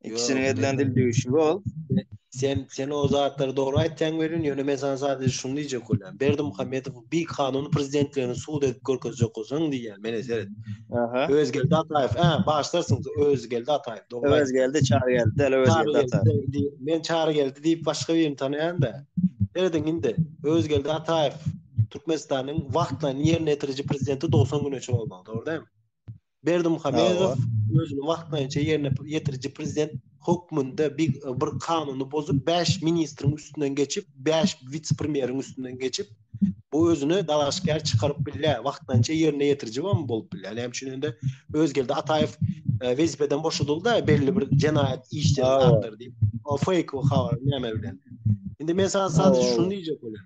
Ikisiniň edilen dil döwüşigi ol. Sen, sen o zatlary dogry aýtýaň welin, ýöne men saňa sadejä şuny diýjek bolýan, Berdimuhamedow bir kanun prezidentlerini sud edip görkezecek olsaň diýýän meni seret. Aha. Özgeldi Ataýew. Ha, başlarsyň Özgeldi Ataýew. Dogry. Özgeldi çary geldi, däl Özgeldi Ataýew. Men çary geldi diýip başga birini tanaýan-da. Serediň indi. Özgeldi Ataýew Türkmenistanyň wagtlaýyn ýerine ýetiriji prezidenti 90 güne çenli bolmaly, dogry dälmi? Berdimuhamedow özüni wagtlaýynça ýerine ýetiriji prezident hökmünde bir bir kanuny bozup, bäş ministriň üstünden geçip, bäş wise-premýeriň üstünden geçip, bu özüni dalaşgär çykaryp bilýär, wagtlaýynça ýerine ýetiriji hem bolup bilýär. Näme üçin indi Özgeldi Ataýew e, wezipeden boşadyldy-da, belli bir jenaýat işleri Hawa. zatlar diýip. O fake o habar näme bilen. Indi men sana sadece Hawa. şuny diýjek bolan.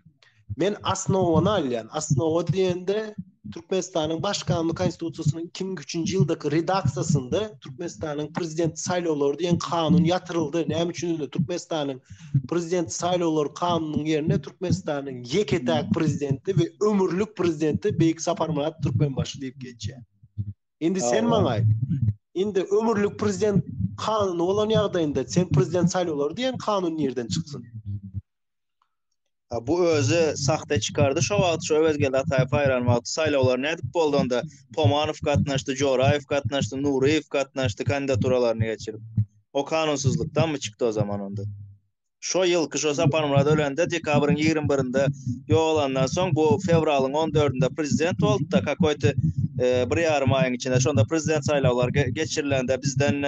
Men asnowany alýan. Asnowa diýende Türkmenistanyň Baş Kanun Konstitusiýasynyň 2003-nji ýyldaky redaksiýasynda Türkmenistanyň prezident saýlawlary diýen kanun ýatyryldy. Näme üçin indi Türkmenistanyň prezident saýlawlary kanunynyň ýerine Türkmenistanyň ýeke-täk prezidenti we ömürlik prezidenti Beýik Saparmyrat Türkmenbaşy diýip geçýär. Indi sen maňa aýt. Indi ömürlik prezident kanuny bolan ýagdaýynda sen prezident saýlawlary diýen kanun nirden çyksyn? Bu özi sahte çykardy şo wagt şo Öwezgeldi Ataýew saýlan wagty saýlawlar nädip boldy onda Pomanow gatnaşdy Joraýew gatnaşdy Nuryýew gatnaşdy kandidaturalaryny geçirip o kanunsyzlykdanmy çykdy o zaman onda şo ýylky şo Saparmyrat ölende dekabryň ýigrimi birinde ýogalandan soň bu fewralyň on dördünde prezident boldy-da kakoýta e, bir ýarym aýyň içinde şonda prezident saýlawlary geçirilende bizden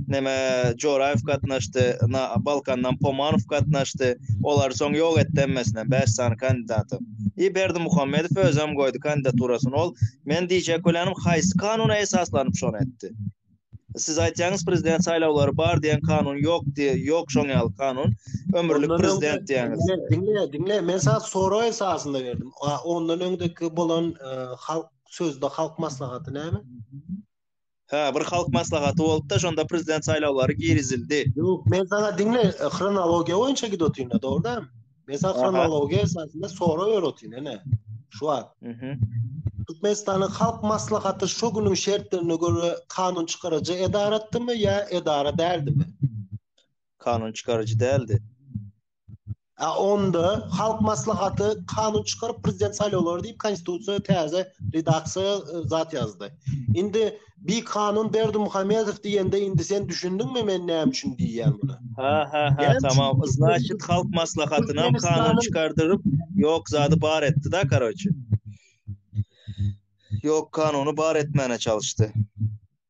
neme Joraýew gatnaşdy, na Balkandan Pomanow gatnaşdy. Olary soň ýok etdi hemmesinem, bäş sany kandidaty. I Berdimuhamedow özem goýdy kandidaturasyny. Ol, men diýjek bolýanym, haýsy kanuna esaslanyp şony etdi? Siz aýtýaňyz, prezident saýlawlary bar diýen kanun ýok diý, ýok şoň ýaly kanun. Ömürlik prezident diýýäňiz. Diňle, diňle, diňle, men saňa sorag esasynda berdim. A, ondan öňdeki bolan e, halk sözde halk maslahaty näme? Hä, bir halk maslahaty bolupda, şonda prezident saýlawlary girizildi. Ýok, men saňa diňle, e, hronologiýa boýunça gidip otyryn-da, dogry däl? Men saňa hronologiýa esasynda sorag berip otyryn, ene. Şu wagt. Mhm. Türkmenistanyň halk maslahaty şu günüň şertlerine görä kanun çykaryjy edaratdymy ýa edara däldimi? Kanun çykaryjy däldi. A onda halk maslahaty kanun çykaryp prezident saýlawlary diýip konstitusiýa täze redaksiýa e, zat ýazdy. Indi bir kanun berdi Muhammedow diýende indi sen düşündiňmi men näme üçin diýýän buna? Ha ha ha tamam. Значит halk maslahatyna hem kanun çykardyryp ýok zady bar etdi da karoçi. Ýok kanuny bar etmäne çalyşdy.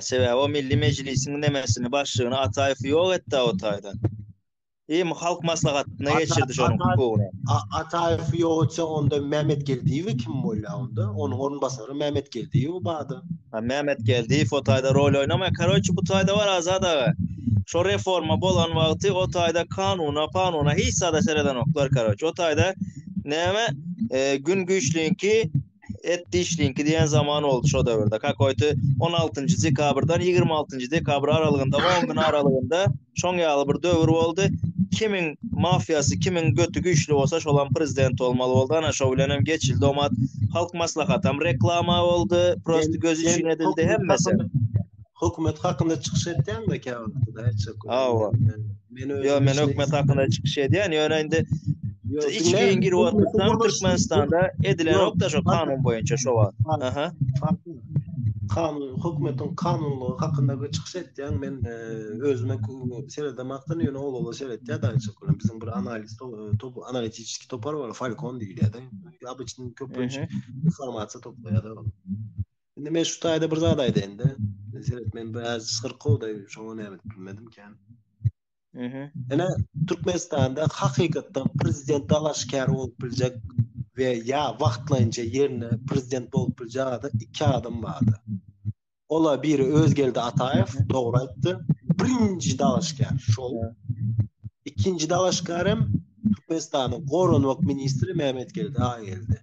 Sebäbi o Milli Mejlisiň nemesini, başlygyny Ataýew ýok etdi-ä o taýdan. Eý, halk maslahatyna geçirdi şonuň hukugyny. Ataýew ýok etse, onda Mämmetgeldiýewi kim bolýar onda? Onuň orunbasary Mämmetgeldiýew bardy. Ha, Mämmetgeldiýew o taýda rol oýnamaýar. Karoçi, bu taýda bar, Azat aga. Şo reforma bolan wagty o taýda kanuna, panuna hiç zada seredenoklar, karoçi. O taýda näme, Gün güýçliňki, et dişliňki diýen zaman oldu şo döwürde. Kakoýty 16-njy dekabrdan 26-njy dekabr aralygynda 10 gün aralygynda şoň ýaly bir döwür boldy. Kimiň mafiýasy, kimiň göti güýçli bolsa şolam prezident bolmaly boldy. Ana şo bilen hem geçildi omat. Halk maslahaty hem reklama boldy. Prosta göz üçin edildi hemmesi. Hökümet hakynda çykyş etýäňde käwagt. Awa. Yo men hökümet hakkında çıkış edýän, ýöne indi iç giyin girip otursaň Türkmenistanda edilen ok da şu kanun boýunça şu wagt. Aha. Kanun hökümetiň kanunlygy hakynda bir çykyş etýän men e, özüme seredemekden ýöne ol ola seretýär da açyk bilen biziň bir analiz top analitiki topar bar Falcon diýilýär da. Abyçyň köpünç informasiýa toplaýar da. Indi men şu taýda bir zat aýdaýyn-da. Seret, men biraz syrkawda, şoňa näme bilmedim kän. Mhm. Ene Türkmenistanda hakykatdan prezident dalaşkär bolup biljek we ýa wagtlaýynça ýerine prezident bolup biljek adam iki adam bardy. Ola biri Özgeldi Ataýew, dogry aýtdy. Birinji dalaşkär şol. Ikinji dalaşkär hem Türkmenistanyň goranmak ministri Mehmet Geldi Ageldi.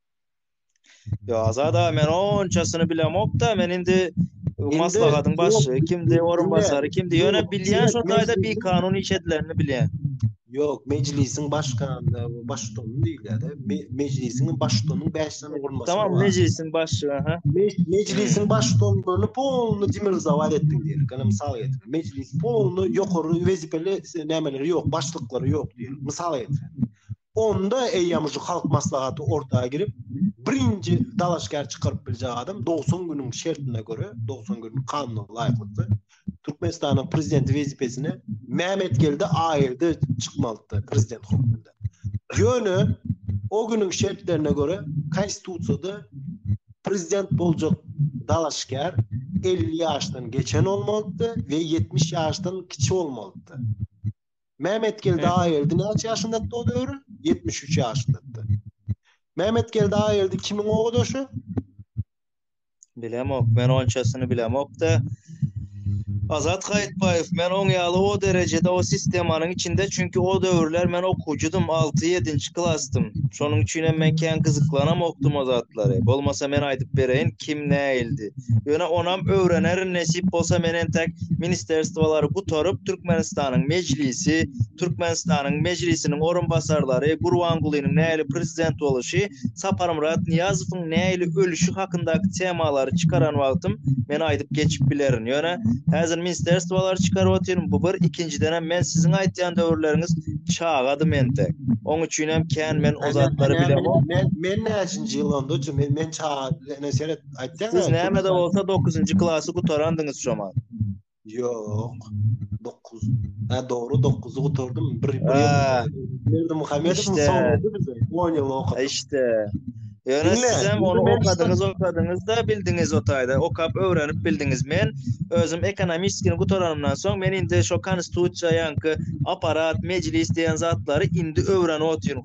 Yo azada men onçasyny bilemokda men indi maslahatyň başy kimdi orun basary kimdi ýöne bilýän şol taýda bir kanun iş edilenini bilýän. Ýok, mejlisiň başgany, baştony diýilýär. Mejlisiň baştony 5 sany orun basary. Tamam, mejlisiň başy, ha. Mejlisiň baştony bolny polny demir zawad etdi diýilýär. Gana mysal getir. Mejlis polny ýokary wezipeli nämeleri ýok, başlyklary ýok diýilýär. Mysal getir. onda eýýäm şu halk maslahaty orta girip, birinji dalaşgär çykaryp biljek adam 90 günüň şertine göre, 90 günüň kanuna laýyklykda Türkmenistanyň prezidenti wezipesine Mämetgeldi Aýyldy çykmalydy prezident hökmünde. Ýöne o günüň şertlerine göre konstitusiýada prezident boljak dalaşgär 50 ýaşdan geçen bolmalydy we 70 ýaşdan kiçi bolmalydy. Mämetgeldi Aýeldi näçe ýaşyndady o döwür? 73 ýaşyndady. Mämetgeldi Aýeldi kimiň ogadaşy? Bilemok, men onçasyny bilemok-da. Azat Gaýytbaýew, men oň ýaly o derejede o sistemanyň içinde, çünki o döwürler men okuwçydym, alty-ýedinji klasdym. Şonuň üçin hem men kän gyzyklanamokdym o zatlara. Bolmasa men aýdyp bereýin, kim nähildi. Ýöne onam öwrenerin nesip bolsa men entek ministerstwolary gutaryp Türkmenistanyň Mejlisi, Türkmenistanyň Mejlisiniň orunbasarlary, Gurbangulynyň nähili prezident boluşy, Saparmyrat Nyýazowyň nähili ölüşi hakyndaky temalary çykaran wagtym men aýdyp geçip bilerin. Ýöne häzir minsterstwolary çykaryp otyryn bu bir ikinjidenem men siziň aýtýan döwürleriňiz çagadym entek. Oň üçinem kän men o zatlary bilemok. Men näçinji ýyl onda men çaga ene seret. Aýtsaňa. Siz nämede bolsa dokuzynjy klasy gutarandyňyz şomal. Ýok. 9. Ha dogry 9-y gutardym. Bir bir Berdi Muhammedow işte. soňrady bize. 10 ýyl okady. İşte. Ýöne siz hem ony okadyňyz, okadyňyz da bildiňiz o taýda. Okap öwrenip bildiňiz. Men özüm ekonomistini gutaranymdan soň men indi şo konstitusiýa ýaňky apparat, mejlis diýen zatlary indi öwrenip otyryn.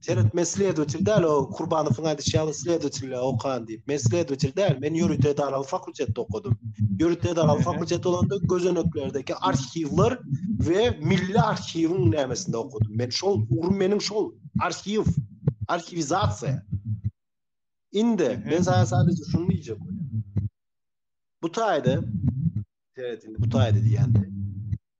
Seret men sledotil däl o Kurbanowyň aýdyşy ýaly sledotil okan diýip. Men sledotil däl, men ýörite edaraly fakultetde okadym. Ýörite edaraly fakultet bolanda gözeneklerdeki arhiwler we milli arhiwiň nämesinde okadym. Men şol ugrum meniň şol arhiw, arhiwizasiýa. Indi men sana sadece şunu diýjek. Bu taýda, seret indi bu taýda diýýän.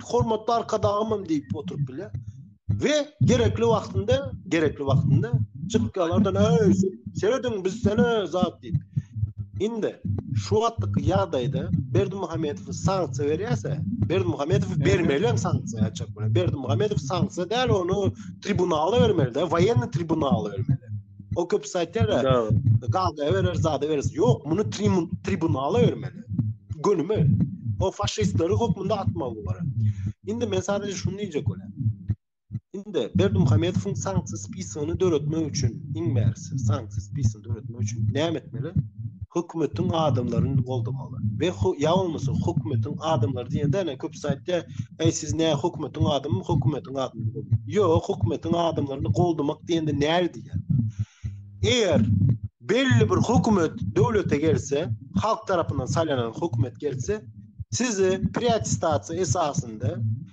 hormatly arkadagymym diýip oturyp bilýär. We gerekli wagtynda, gerekli wagtynda çykyp galardan öý serediň biz sene zat diýip. Indi şu wagtlyk ýagdaýda Berdi Muhammedow sanksiýa berýärse, Berdi Muhammedow bermeli hem sanksiýa açyk bilen. Berdi Muhammedow sanksiýa däl, ony tribunala bermeli, de, woýenny tribunala bermeli. O köpüsi aýtýar, gazda berer, zada berer. Ýok, muny tribunala bermeli. Gönüme. O faşistleri hökmünde atmaly bar. Indi men sadece şunu diýjek bolýan. Indi Berdim Hamedowyň sanksiýa spisigini döretmek üçin, iň bärisi sanksiýa spisigini döretmek üçin näme etmeli? Hökümetiň adamlaryny goldama. we ýa bolmasa hökümetiň adamlary diýende ene köpüsi aýtýar, Eý siz nä hökümetiň adamymy, hökümetiň adamymy boluň. Ýok, hökümetiň adamlaryny goldamak diýende näge diýýär? Eger belli bir hökümet döwlete gelse, halk tarapyndan saýlanan hökümet gelse, sizi priatistasiýa esasynda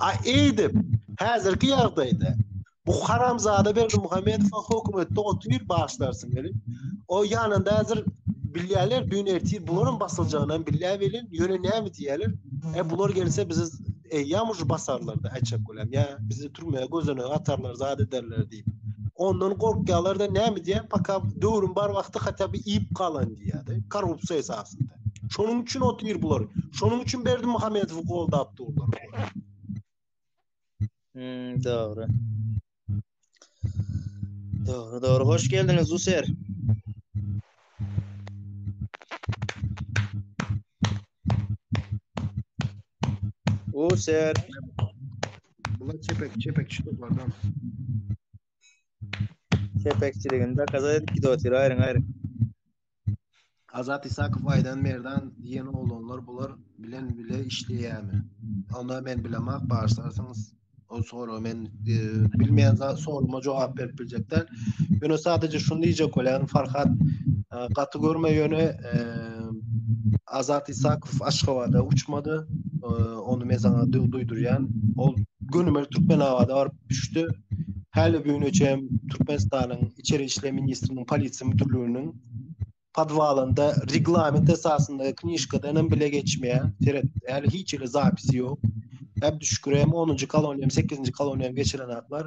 A eýdip, häzirki ýagdaýda bu haramzada berdi Muhammedow hökümetde otyr başlarsyn gelip. O ýanynda häzir bilýärler, düýn ertir bularyň basyljagyny bilýä welin, ýöne näme diýýärler? E bular gelse bizi eýýam uj basarlar-da, äçek bolýar. Ýa bizi türmä gözene atarlar, zat ederler diýip. Ondan gorkýarlar-da näme diýýär, paka döwrüň bar wagty hatda bir iýip galan diýýär-de, korrupsiýa esasynda. Şonuň üçin otyr bular. Şonuň üçin Berdi Muhammedowy goldap durlar. Hmm, dogry. Dogry, dogry. Hoş geldiňiz, User. User. Bula çepek çepek çykyp bardan. Çepekçiligini de kaza edip gidip otyr aýryň aýryň. Azat Isakow Aýdan Merdan diýen oglanlar bular bilen bile işleýärmi? Onda men bilemak barsarsynız. O soru men e, bilmeýän zat soruma jogap berip biljek däl. Ýöne sadece şunu diýjek bolýan Farhat e, gaty görme ýöne e, Azat Isakow Aşgabada uçmady. E, Ony men saňa duýdurýan. Ol gönümel Türkmenabada baryp düşdi. Häli bu güne çem Türkmenistanyň Içeri işler ministriniň polisiýa müdirliginiň podwalynda reglament esasynda knişkadan hem bile geçmeýär. Seret, häli hiç ýerde zapisi ýok. Hep düşkürem 10-njy koloniýam, 8-nji koloniýam geçiren aklar.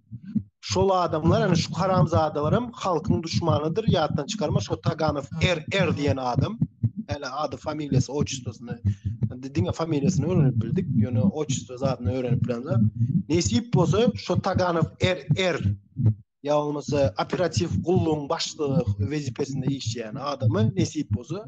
Şol adamlar, yani şu haramzadalar hem halkyn duşmanydyr, ýatdan çykarma, şo Taganow er er diýen adam, yani ady familiýasy oçistosyny, diňe familiýasyny öwrenip bildik, ýöne oçisto zadyny öwrenip bilemde. Nesip bolsa şo Taganow er er ýa bolmasa operatiw gullugyň başlygy wezipesinde işleýän adamy nesip bolsa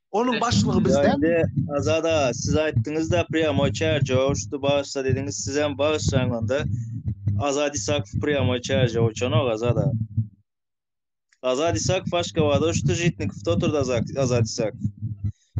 Onuň başlygy bizde. Azada, siz aýtdyňyz da prýamoý çärjew uçdy başda dediňiz, siz hem bagyşlaň onda. Azat Isakow prýamoý çärjew uçanok Azada. Azat Isakow Aşgabada uçdy, Žitnikow oturdy Azat Isakow.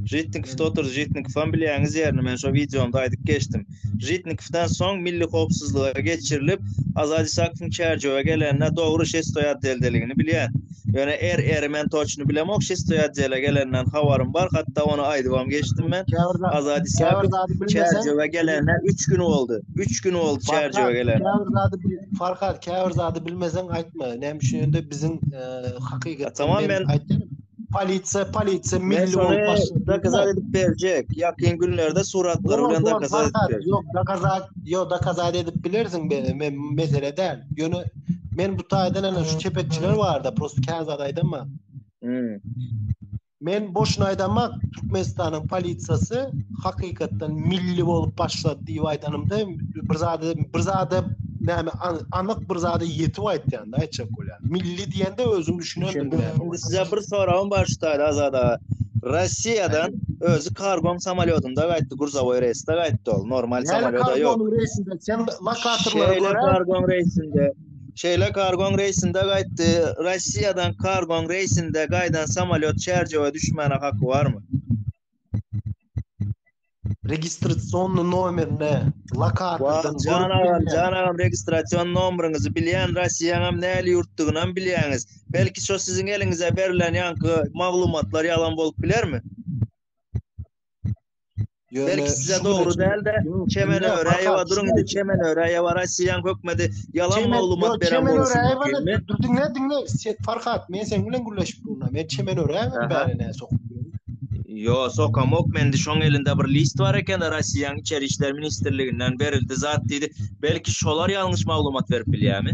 Žitnikow da oturdy. Žitnikow hem bilýäňiz ýerini men şo wideomda aýdyp geçdim. Žitnikowdan soň milli howpsuzlyga geçirilip, Azat Isakowyň Çärjewe gelenine dogry şestoý atdeldeligini bilýän. Ýöne er eri men toçny bilemok, şistoý otdele gelenden habarym bar, hatda ony aýdybam geçdim men. Azady Sabit Çärjewe gelende 3 gün boldy. 3 gün boldy Çärjewe gelende. Käbir zady Farhat, käbir zady bilmeseň aýtma. Näme üçin ýöne biziň e, hakykat tamam men aýtdym. Polisiýa, polisiýa milli bolup başlaýar. Dokazat edip berjek. Ýakyn günlerde suratlar bilen dokazat edip berjek. Ýok, dokazat, ýok, dokazat edip bilersiň, men mesele däl. Ýöne Men bu taýdan ana şu çepekçiler barda prosta kän zat aýdamma. Hmm. Men boşuna aýdamma Türkmenistanyň polisiýasy hakykatdan milli bolup başlady diýip aýdanymda bir zat bir zat näme anyk bir zat ýetip aýtýanda aýtjak bolýan. Milli diýende özüm düşünendim. Indi size bir soragym bar şu taýda azada. Russiýadan özi kargon samolyodynda gaýtdy, gruzowoý reýsde gaýtdy ol, normal samolyodda ýok. Kargon reýsinde Sen makasyrlara görä... Şeýle kargon reýsinde, şeýle kargon reýsinde gaýtdy. Russiýadan kargon reýsinde gaýdan samolýot çärjewe düşmäne haky barmy? Registrasionny nomerine lokatordan görüp Jan agam, jan agam registrasion nomeriňizi bilýän, Russiýaňam näli ýurtdygynam bilýäňiz. Belki şo siziň eliňize berlen ýaňky maglumatlar ýalan bolup bilermi? Belki size dogry dälde, Çemen Öräýewa duruň indi Çemen Öräýewa Rossiýanyň hökmedi ýalan maglumat beren bolsa. Çemen Öräýewa durdun ne diňle Farhat men sen bilen gürleşip durna. Men Çemen Öräýewa bäri ne sok. Yo sokamok mendi şoň elinde bir list bar eken Rossiýanyň içeri işler ministrliginden berildi zat diýdi. Belki şolar ýalňyş maglumat berip bilýärmi?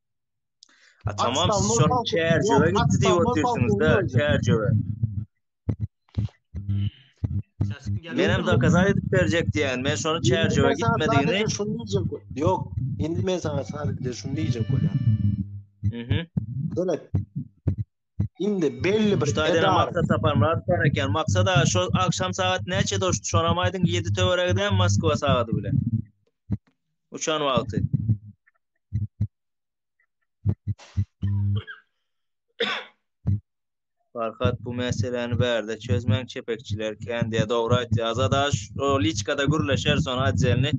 A tamam siz şony çärjewe gitdi diýip otursyňyzda, çärjewe. Men hem dokazat edip berjek diýen, men şony çärjewe gitmedigini. Şuny diýjek. Ýok, indi men saňa sadece şuny diýjek bolýan. Mhm. Dönet. Indi belli bir taýdan maksat tapanlar bar eken. Maksat aga şu agşam sagat näçe doşdy? Şonam aýdyň 7 töweregde Moskwa sagaty bilen. Uçan wagty. Farhat bu meseläni bärde çözmäň çepekçiler kän diýä dogry aýtýa Azat aş o liçkada gürleşer son adjelni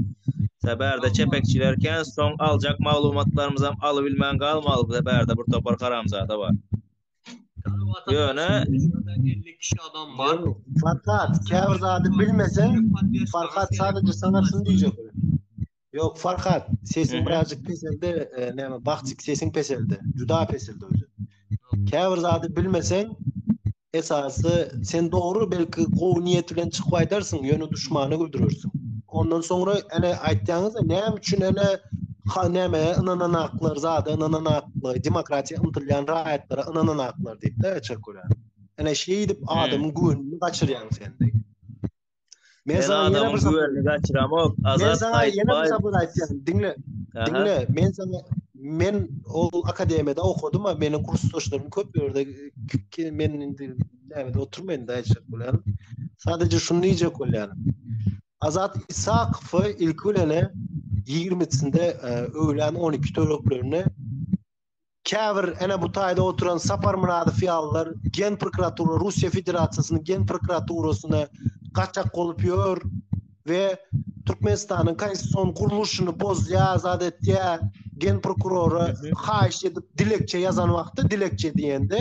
Sä bärde çepekçiler kän soň aljak maglumatlarymyzam alybilmän galmaly bu bärde bir topar haramzada bar. Ýöne Farhat, käbir zady bilmeseň, Farhat sadece sana şunu diýjek. Ýok, Farhat, sesiň birazjyk peseldi, e, näme, bagtyk sesiň peseldi. Juda peseldi özi. Käbir zady bilmeseň, esasy sen dogry belki gowy niýet bilen çykyp aýdarsyň, ýöne duşmana güldürersiň. Ondan soňra ene aýtýaňyz, näme üçin ene Ha näme ynananaklar zada ynananaklar demokratiýa ymtylýan raýatlara ynananaklar diýip-de geçer köre. Ene şeýdip adamyň güwenini gaçyrýaň sen. Men sana ýene bir güwenini gaçyramok. Azat Men sana ýene bir sabır aýtýan. Diňle. Diňle. Men sana men ol akademiýada okadym, meniň kursdaşlarym köp ýerde ki men indi näme oturmaýyn daýçak bilen. Sadece şunu diýjek bolýan. Azat Isakow ilki bilene 20-sinde öwlän 12 töreklerinde käbir ene bu taýda oturan Sapar Myradow ýalylar gen prokuratura Russiýa Federasiýasynyň gen prokuraturasyna gaçak bolup ýör we Türkmenistanyň konstitusion gurluşyny bozýar, zat etýär. Gen prokurora haýyş edip dilekçe ýazan wagty dilekçe diýende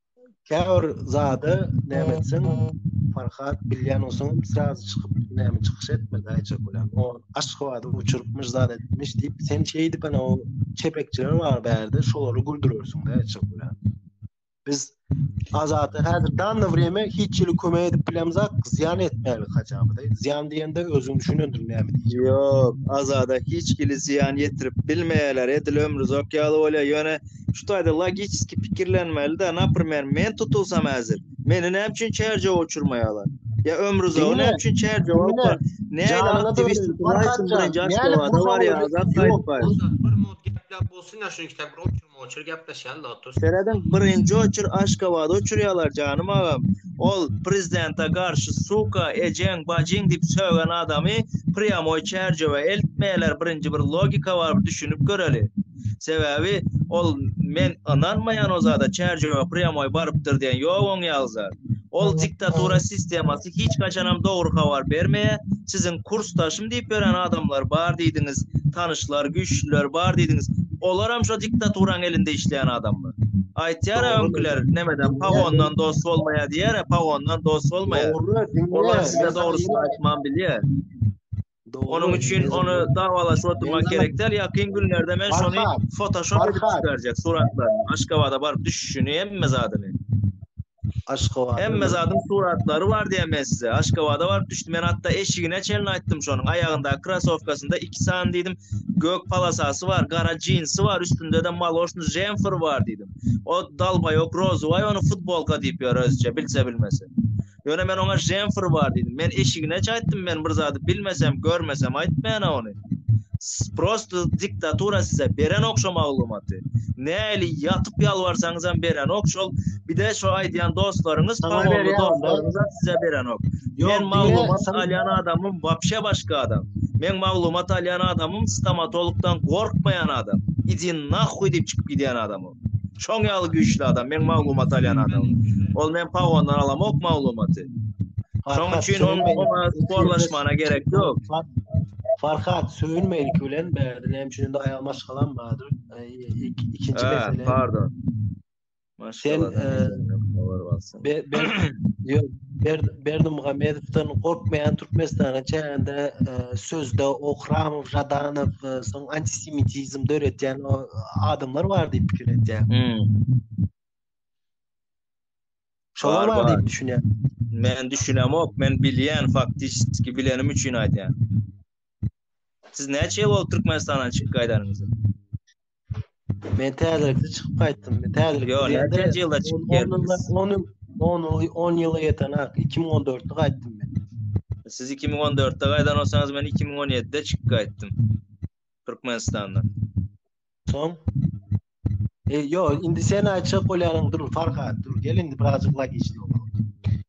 Käbir zada näme etsin? Farhat bilýän olsun, sraz çykyp näme çykyş etmedi aýça bilen. O aşgabady uçurupmyş zat etmiş diýip, sen şeýdip ana o çepekçiler bar bärde, şolary güldürersiň aýça bilen. Biz azaty häzir danna wreme hiç ýyly kömek edip bilemzak, zyýan etmäli hajabydy. Zyýan diýende özüň düşünendir näme diýip. Ýok, azada hiç ýyly zyýan ýetirip bilmeýärler. Edil ömrüzok ýaly bolýar. Ýöne Şu taýda logiçiski pikirlenmeli-dä, naprimer, men tutulsam häzir, meni näme üçin çärjewa uçurmaýarlar? Ýa Ömrüzowy näme üçin çärjewa alyp bar? Nähili aktiwist Raýsyn bilen Jaşkewada barýar, Azat Saýytbaýew? Ozal bir minut gepläp bolsun-da, şuny ikitäk bir oçurma-oçur gepleşeli-de otur. Serediň, birinji oçur Aşgabada uçurýarlar, janym agam. Ol prezidente garşy suka, ejeň, bajyň diýip sögen adamy prýamoý çärjewe eltmeýärler, birinji bir logika bar, bir düşünip göreli. Sebäbi ol men ynanmaýan o zada çärjewe prýamoý barypdyr diýen ýok oň ýaly zat. Ol diktatura sistemasy hiç haçanam dogry habar bermeýä, siziň kursdaşym diýip ýören adamlar bar diýdiňiz, tanyşlar, güýçlüler bar diýdiňiz, olaram şo diktaturaň elinde işleýän adamlar. Aýtýara öňküler nämeden pagondan dost bolmaýa diýýärä pagondan dost bolmaýa. Olar size dogrusyny aýtman bilýä. Onuň üçin ony dawalaşyp oturmak gerek däl. Ýakyn günlerde men şony fotoshop edip çykarjak suratlaryny. Aşgabada baryp düşüşini hemme zadyny. Aşgabada. Hemme zadyň suratlary bar diýen men size. Aşgabada baryp düşdi. Men hatda eşigine çenli aýtdym şonuň. Aýagyndaky krasowkasynda iki sany diýdim gök palasasy bar, gara jinsi bar, üstünde-de maloşnyý jemfer bar diýdim. O dalbaýok rozowaý ony futbolka diýip ýör özüçe bilse bilmese. Ýöne men oňa Jenfr bar diýdim. Men eşigineç aýtdym, men bir zady bilmesem, görmesem aýtmaýan-a ony. Prosta diktatura size berenok şo maglumaty. Nähili ýatyp ýalbarsaňyzam berenok şol. Bir-de şo aýdýan dostlaryňyz, pogony dostlaryňyzam size berenok. Men maglumat alýan adamym wapşe başga adam. Meň maglumat alýan adamym stomatologdan gorkmaýan adam. Idi nahuý diýip çykyp gidýän adam o. Şoň ýaly güýçli adam, meň maglumat alýan adamym. Ol men pagondan alamok maglumaty. Şoň üçin ol oňa sporlaşmana gerek ýok. Farhat söýülmeýin ki bilen bäde näme üçin indi aýal maşgalam bardyr. Ikinji mesele. Pardon. Sen Berdimuhamedowdan gorkmaýan Türkmenistana çenli sözde Ohram Jadanow soň antisemitizm döretýän o adamlar bar diýip pikir edýän. Şolar bar diýip düşünýän. Men düşünemok, men bilýän faktiki bilenim üçin aýdýan. Siz näçe bol Türkmenistana çykyp gaýdanyňyzy? Men täzelikde çykyp gaýtdym. Men täzelikde. Ýok, näçe ýylda çykyp geldiňiz? 10 10 10 ýyla ýeten ak 2014-de gaýtdym men. Siz 2014-de gaýdan bolsaňyz men 2017-de çykyp gaýtdym. Türkmenistandan. Soň E, yo, indi sen aytacak bolýanyň dur Farhat, dur gel indi birazcık logiki bolalım.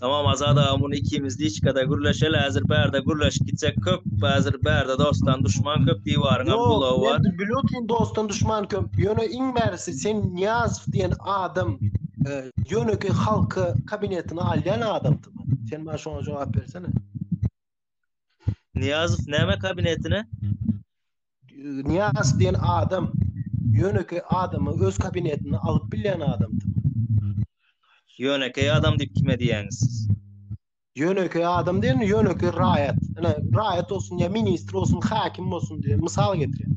Tamam Azat aga muny ikimiz liçkada gürleşeli hazir bärde gürleşip gitsek köp hazir bärde dostdan duşman köp diwaryň hem gulagy bar. Ýok bilotyn dostdan duşman köp ýöne iň bärisi sen Niýazow diýen adam ýönekeý halky kabinetine alýan adamdymy? Sen maňa şoňa jogap bersene. Niýazow näme kabinetine? Niýaz diýen adam ýönekeý adamy öz kabinetine alyp bilýän adamdy. Ýönekeý adam diýip kime diýýäňiz siz? Ýönekeý adam diýen ýönekeý raýat. Ine, raýat bolsun ýa ministr bolsun, häkim bolsun diýen mysal getirýän.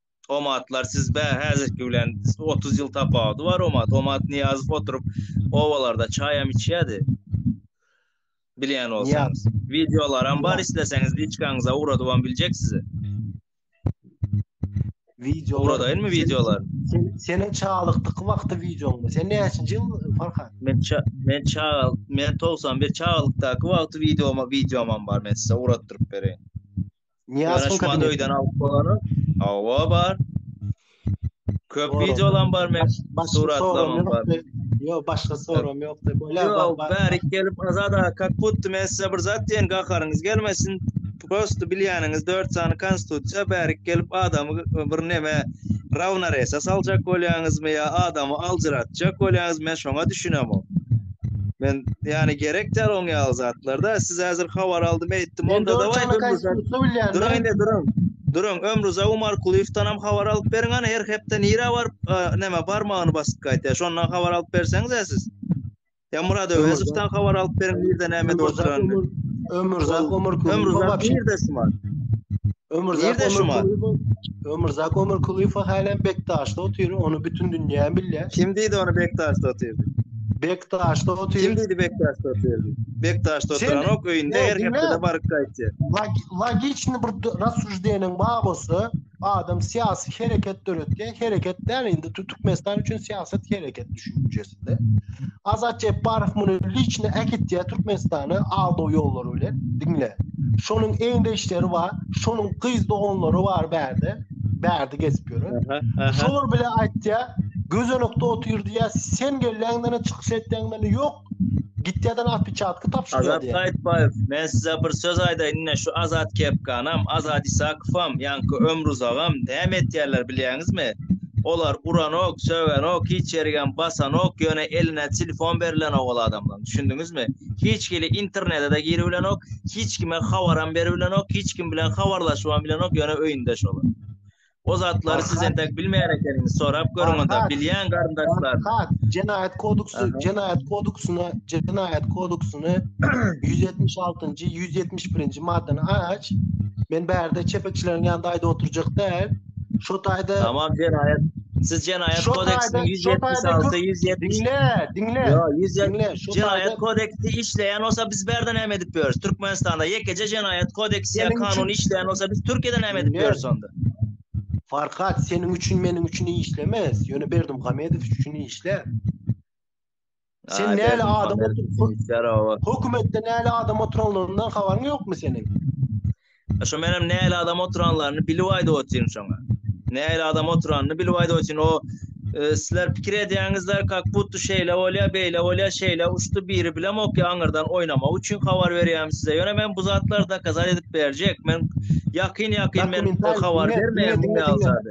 Omatlar siz bä häzirki bilen 30 ýyl tapawudy bar Omat. Omat Niýazow oturyp obalarda çaýam içýärdi. Bilýän bolsaňyz. Wideolaram bar isleseňiz liçkaňyza ugradybam biljek size. Video uradaýynmy wideolar? Sen seniň çagalykdyky wagty wideoňmy? Sen näçinji ýyl Farhan? Men ça men çagal men 91 çagalykdaky wagty wideoma wideomam bar men size uratdyryp bereýin. Niýazowyň kabinetinde. alyp bolany. Hawa bar. Köp wideolam bar men. Suratlamam bar. Ýok, başga soram ýok. Ýok, bärik gelip Azada, kak butdy men size bir zat diýen gaharyňyz gelmesin. Prosto bilýäniňiz 4 sany konstitusiýa bärik gelip adamy bir neme rawnoresa saljak bolýaňyzmy ýa adamy aljyratjak bolýaňyz men şoňa düşünemok. Men yani gerek däl oň ýaly zatlarda. Siz häzir habar aldym eýtdim. Onda da baý bilýän. Durun, durun. Durun, Ömrüza Umar Kulyýewden hem habar alyp beriň, ana her hepde nirä baryp, näme barmagyny basyp gaýtýar. Şondan habar alyp berseňiz-ä siz. Ya Murad Öwezowdan habar alyp beriň, nirde näme oturandygy. Ömrüza Umar Kulyýew. Ömrüza nirde şu wagt? Ömürzak Ömür Kulyýew. Ömürzak Ömür Kulyýew hälem Bekdaşda otyr, ony bütün dünýä bilýär. Kim diýdi ony Bekdaşda otyr? Bekdaşda otyr. Kim diýdi Bekdaşda otyr? Bekdaşda otyran ok öýünde her hepdede baryp gaýtýar. Logiçny bir rassujdeýeniň bar bolsa, adam syýasy hereket döretýär, hereket däl indi Türkmenistan üçin syýasat hereket düşünjesi. ýerinde. Azat Jepbarow muny liçni äkitýär Türkmenistana aldaw ýollary bilen. Diňle. Şonuň eňdeşleri bar, şonuň gyz doganlary bar bärde. Bärde gezip ýören. Şolar bile aýtýar, gözenekde otyr diýýär, sen gelýäňden çykyş etýäňden ýok. Gitýäden atpiçatky tapşyrýar. Azat Gaýtbaýew, men size bir söz aýdaýyn, ine şu Azat Kepkanam, Azat Isakowam, ýaňky Ömruzagam näme etýärler bilýäňizmi? Olar uranok, sögenok, hiç ýerigem basanok, ýöne eline telefon berilenok ol adamlaň, düşündiňizmi? Hiç hili internete-de giribilenok, hiç kime habaram beribilenok, hiç kim bilen habarlaşybam bilenok, ýöne öýünde şol. O zatlary siz entek bilmeýän ekeniňiz, sorap görüň onda, bilýän garyndaşlar. Farhad, Jenaýat kodeksi, Jenaýat kodeksine, Jenaýat kodeksine 176-njy, 171-nji maddany aç. Men bärde çepekçileriň ýanynda aýda oturjak däl. Şu taýda Tamam jenaýat. Siz jenaýat kodeksiniň 176, 170. Diňle, diňle. Yo, 170. Jenaýat kodeksi işleýän bolsa biz berden näme edip ýörüs? Türkmenistanda ýekeje jenaýat kodeksi ýa kanun işleýän bolsa biz Türkiýede näme edip ýörüs onda? Farhat, seniň üçin, meniň üçin işlemez. Ýöne Berdim Gamedow üçin işlär. Sen näle adam oturyp Hökümetde näle adam oturanlaryndan habaryň ýokmy seniň? Şo menem näle adam oturanlaryny bilip aýdyp otyryn şoňa. Näle adam oturanyny bilip aýdyp otyryn. O e, sizler pikir edýäňizler, kak butdy şeýle bolýar, beýle bolýar, şeýle uçdy biri bilen ok aňyrdan oýnamak üçin habar berýärin size. Ýöne men bu zatlary dokazat edip berjek. Men ýakyn ýakyn men habar bermeýän bu ýalzady.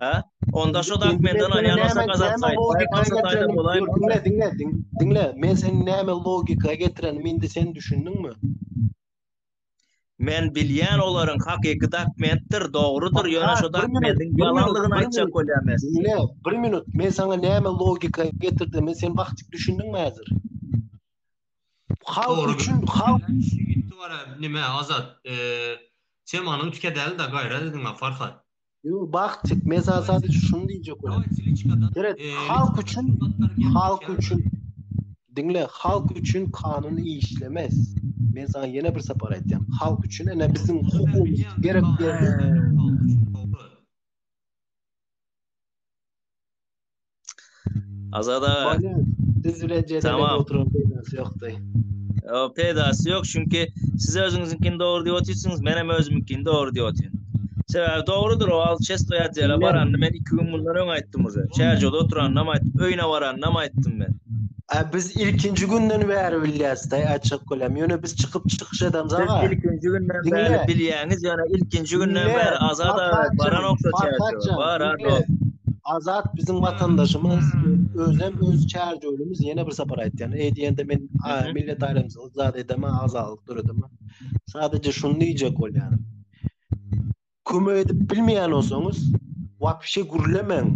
He? Onda şu dokumentten alýan olsa gazapsaýt. Baýpaý getiren bolaýmy? Diňle, diňle, diňle. Men seni näme logika getirenim indi sen düşündiňmi? Men bilýän olaryň hakyky dokumentdir, dogrudyr, ýöne şu dokumentin ýalanlygyny aýtjak bolýan men. Diňle, bir minut, men saňa näme logika getirdim, sen wagtyk düşündiňmi häzir? Halk üçin, halk üçin. Nime, Azat, e, temanyň tike däl-de, gaýra diýdiň-ä, Farhat. Yo, bak tek men sana sadece şunu diyecek olam. Evet, halk için, halk için, dinle, halk için kanun işlemez. Men sana yine bir sapar aytayım. Halk için, ene bizim hukukumuz gerek yerine. Azat aga. Biz bilen jedelek oturan peydasy ýokdy. Ýo, peydasy ýok, çünki siz özüňiziňkini dogry diýip otyrsyňyz, men hem özümiňkini dogry diýip otyryn. Sebäbi dogrudyr o, al çesto ýatýar, baranda men iki gün mundan öň aýtdym uze. Çärjewde oturanda hem aýtdym, öýüne baranda hem aýtdym men. A biz ilkinji günden bäri bilýäs da açyk gülem. Ýöne biz çykyp çykyş edemiz aga. Siz ilkinji günden bäri bilýäňiz, ýöne ilkinji günden bäri Azat baran okşa çäşe. Bar aga. Azat biziň watandaşymyz, özem öz çärjewimiz ýene bir sapar aýtýan. Eý diýende men millet aýrymsy zat edemä, azalyk döredemä. Sadece şuny diýjek bolýan. Kömek edip bilmeýän olsaňyz, wapşe gürlemäň.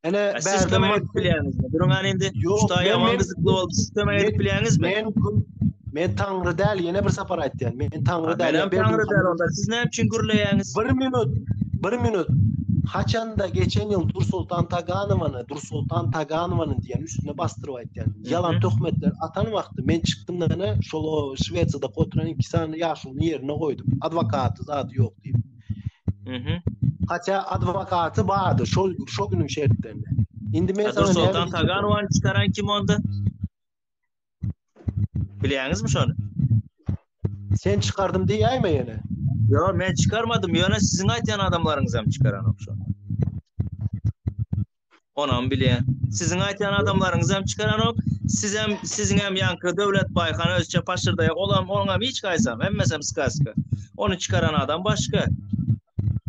Ene bärdem kömek edip bilýäňizmi? Duruň an indi. Şuda ýaman gyzykly boldy. Siz kömek edip bilýäňizmi? Men Men taňry däl, ýene bir sapar aýtýan. Men taňry däl. Men taňry däl onda. Siz näme üçin gürleýäňiz? Bir minut. Bir minut. Haçanda geçen ýyl Dur Sultan Taganowany, Dur Sultan Taganowany diýen üstüne basdyryp aýtýan. Ýalan töhmetler atan wagty men çykdym da ene şol Şwesiýada oturan iki sany ýaşulyny ýerine goýdum. Adwokaty zady ýok diýip. Mhm. Hatda adwokaty bardy şol şol günüň şertlerinde. Indi men sana Sultan Taganowan çykaran kim onda? Bilýäňizmi şony? Sen çykardym diýäýme ýene. Yo, men çykarmadym. Ýöne siziň aýtýan adamlaryňyz hem çykaran okşa. Onam bile siziň aýtýan adamlaryňyzam çykaranok. Sizem siziňem ýanky Döwlet Baýhan özçe paşyrdaýa olam oňam hiç gaýsam hemmesem skaska. Ony çykaran adam başga.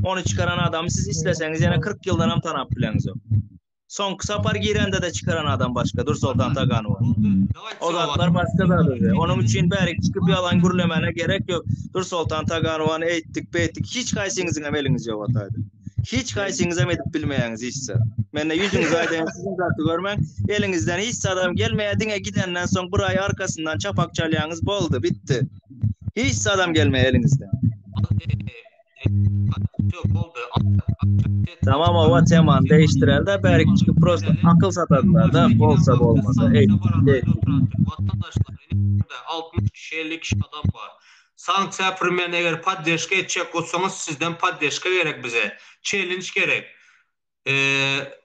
Ony çykaran adamy siz isleseňiz ýene 40 ýyldan hem tanap bileňizok. Soňky sapar girende de çykaran adam başga Dur Soltan Taganowa. O zatlar başga zady. Onuň üçin bärik çykyp ýalan gürlemäne gerek ýok. Dur Soltan Taganowany eýtdik, beýtdik. Hiç gaýsyňyzyňam eliňiz ýok ataýda. Hiç gaýsyňyzam edip bilmeýäňiz hiç zat. Mende ýüzüňizi aýdaýan siziň zady görmäň. Eliňizden hiç zadam gelmeýär, diňe gidenden soň bir aý arkasyndan çapak çalýaňyz boldy, bitdi. Hiç zadam gelmeýär eliňizden. Tamam owa temany değiştirelde bärik çünki prosta akyl satadylar da bolsa bolmasa. Ey. Ey. 60 kişi 50 kişi adam bar. Sanksiýa primen eger poddeşka etjek botsaňyz sizden poddeşka gerek bize çelinç gerek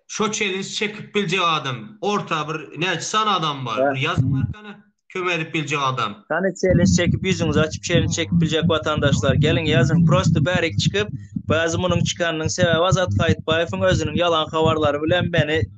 şo çelinç çekip biljek adam orta bir näçe sany adam bar bir ýazyň arkana kömek edip biljek adam. Hany çelinç çekip ýüzüňizi açyp çelinç çekip biljek watandaşlar geliň ýazyň prosta bärik çykyp bazi munyň çykanynyň sebäbi Azat Saýytbaýewiň özüniň ýalan habarlary bilen meni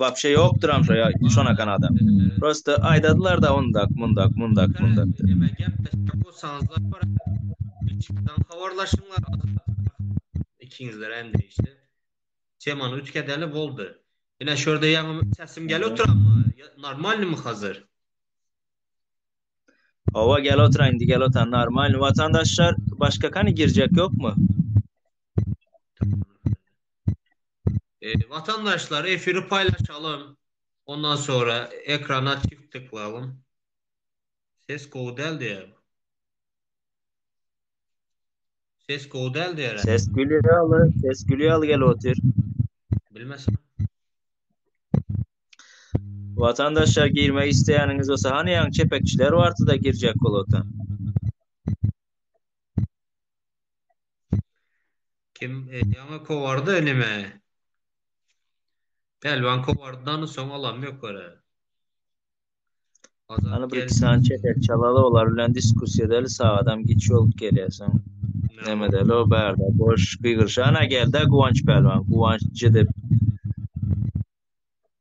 Wapşe ýokduram şo ýa şonakan adam. Prosta aýdadylarda ondak mundak mundak mundak dep. Neme gep desek bolsaňyzlar bir içerden hawarlaşyňlar azatlyk ikiňizlerem degişli temany üýtgedeli boldy. Ine şurda ýaňy sesim gelip oturanmy normalnymy hazir. Hawa gel otura indi gel otan normalny watandaşlar başga kany girjek ýokmy. Watandaşlar efiri paýlaşalym. Ondan sonra ekrana çift tyklalym. Ses gowy däl diýýär. Ses gowy däl diýýär. Ses gülýär ýaly, ses gülýär ýaly gelip otyr. Bilmesin. Watandaşlar girmek isleýäniňiz bolsa, hany ýaňy çepekçiler bardy-da girjek bolada. Kim ýaňy kowardy nime? Pälwan kowardydan soň alam ýok görä. Hany bir iki sany çetek çalaly olar bilen diskussiýa edeli sagadam giç bolup gelýärsiň. Neme däl o bärde boş gygyryş. Ana geldi Guwanç Pälwan. Guwanç jidip.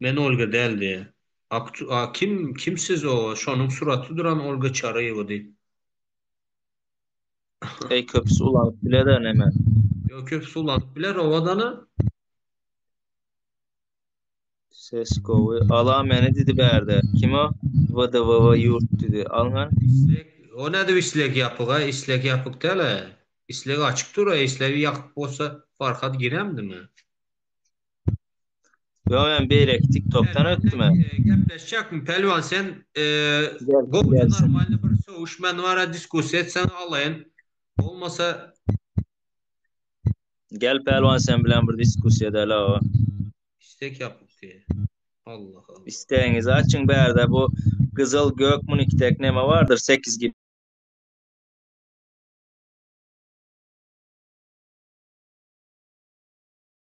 Men Olga däl diýýä. Aktu a kim, kim siz o, şonuň suraty duran Olga Çaryýewa diý. Eý köpüsi ulanyp biler-ä neme. Ýo köpüsi ulanyp biler owadana. Ses gowy. Ala meni didi bärde. Kim o? WDWW ýurt didi. Al men. Isleg, o nädip isleg ýapyga, isleg ýapyk däl-ä. Isleg açyk dur-a, islegi ýapyk bolsa Farhad giremdimi? Ýok men beýleki tiktokdan ötdüm. Gepleşjekmi Pälwan sen gowja normalny bir sögüş men wara diskussiýa etseň alaýyn bolmasa. Gel Pälwan sen bilen bir diskussiýa edeli awa. Istek ýapyk diýe. Allah Allah. Istegiňizi açyň bärde bu gyzyl gök munyki dek neme bardyr sekiz gibi.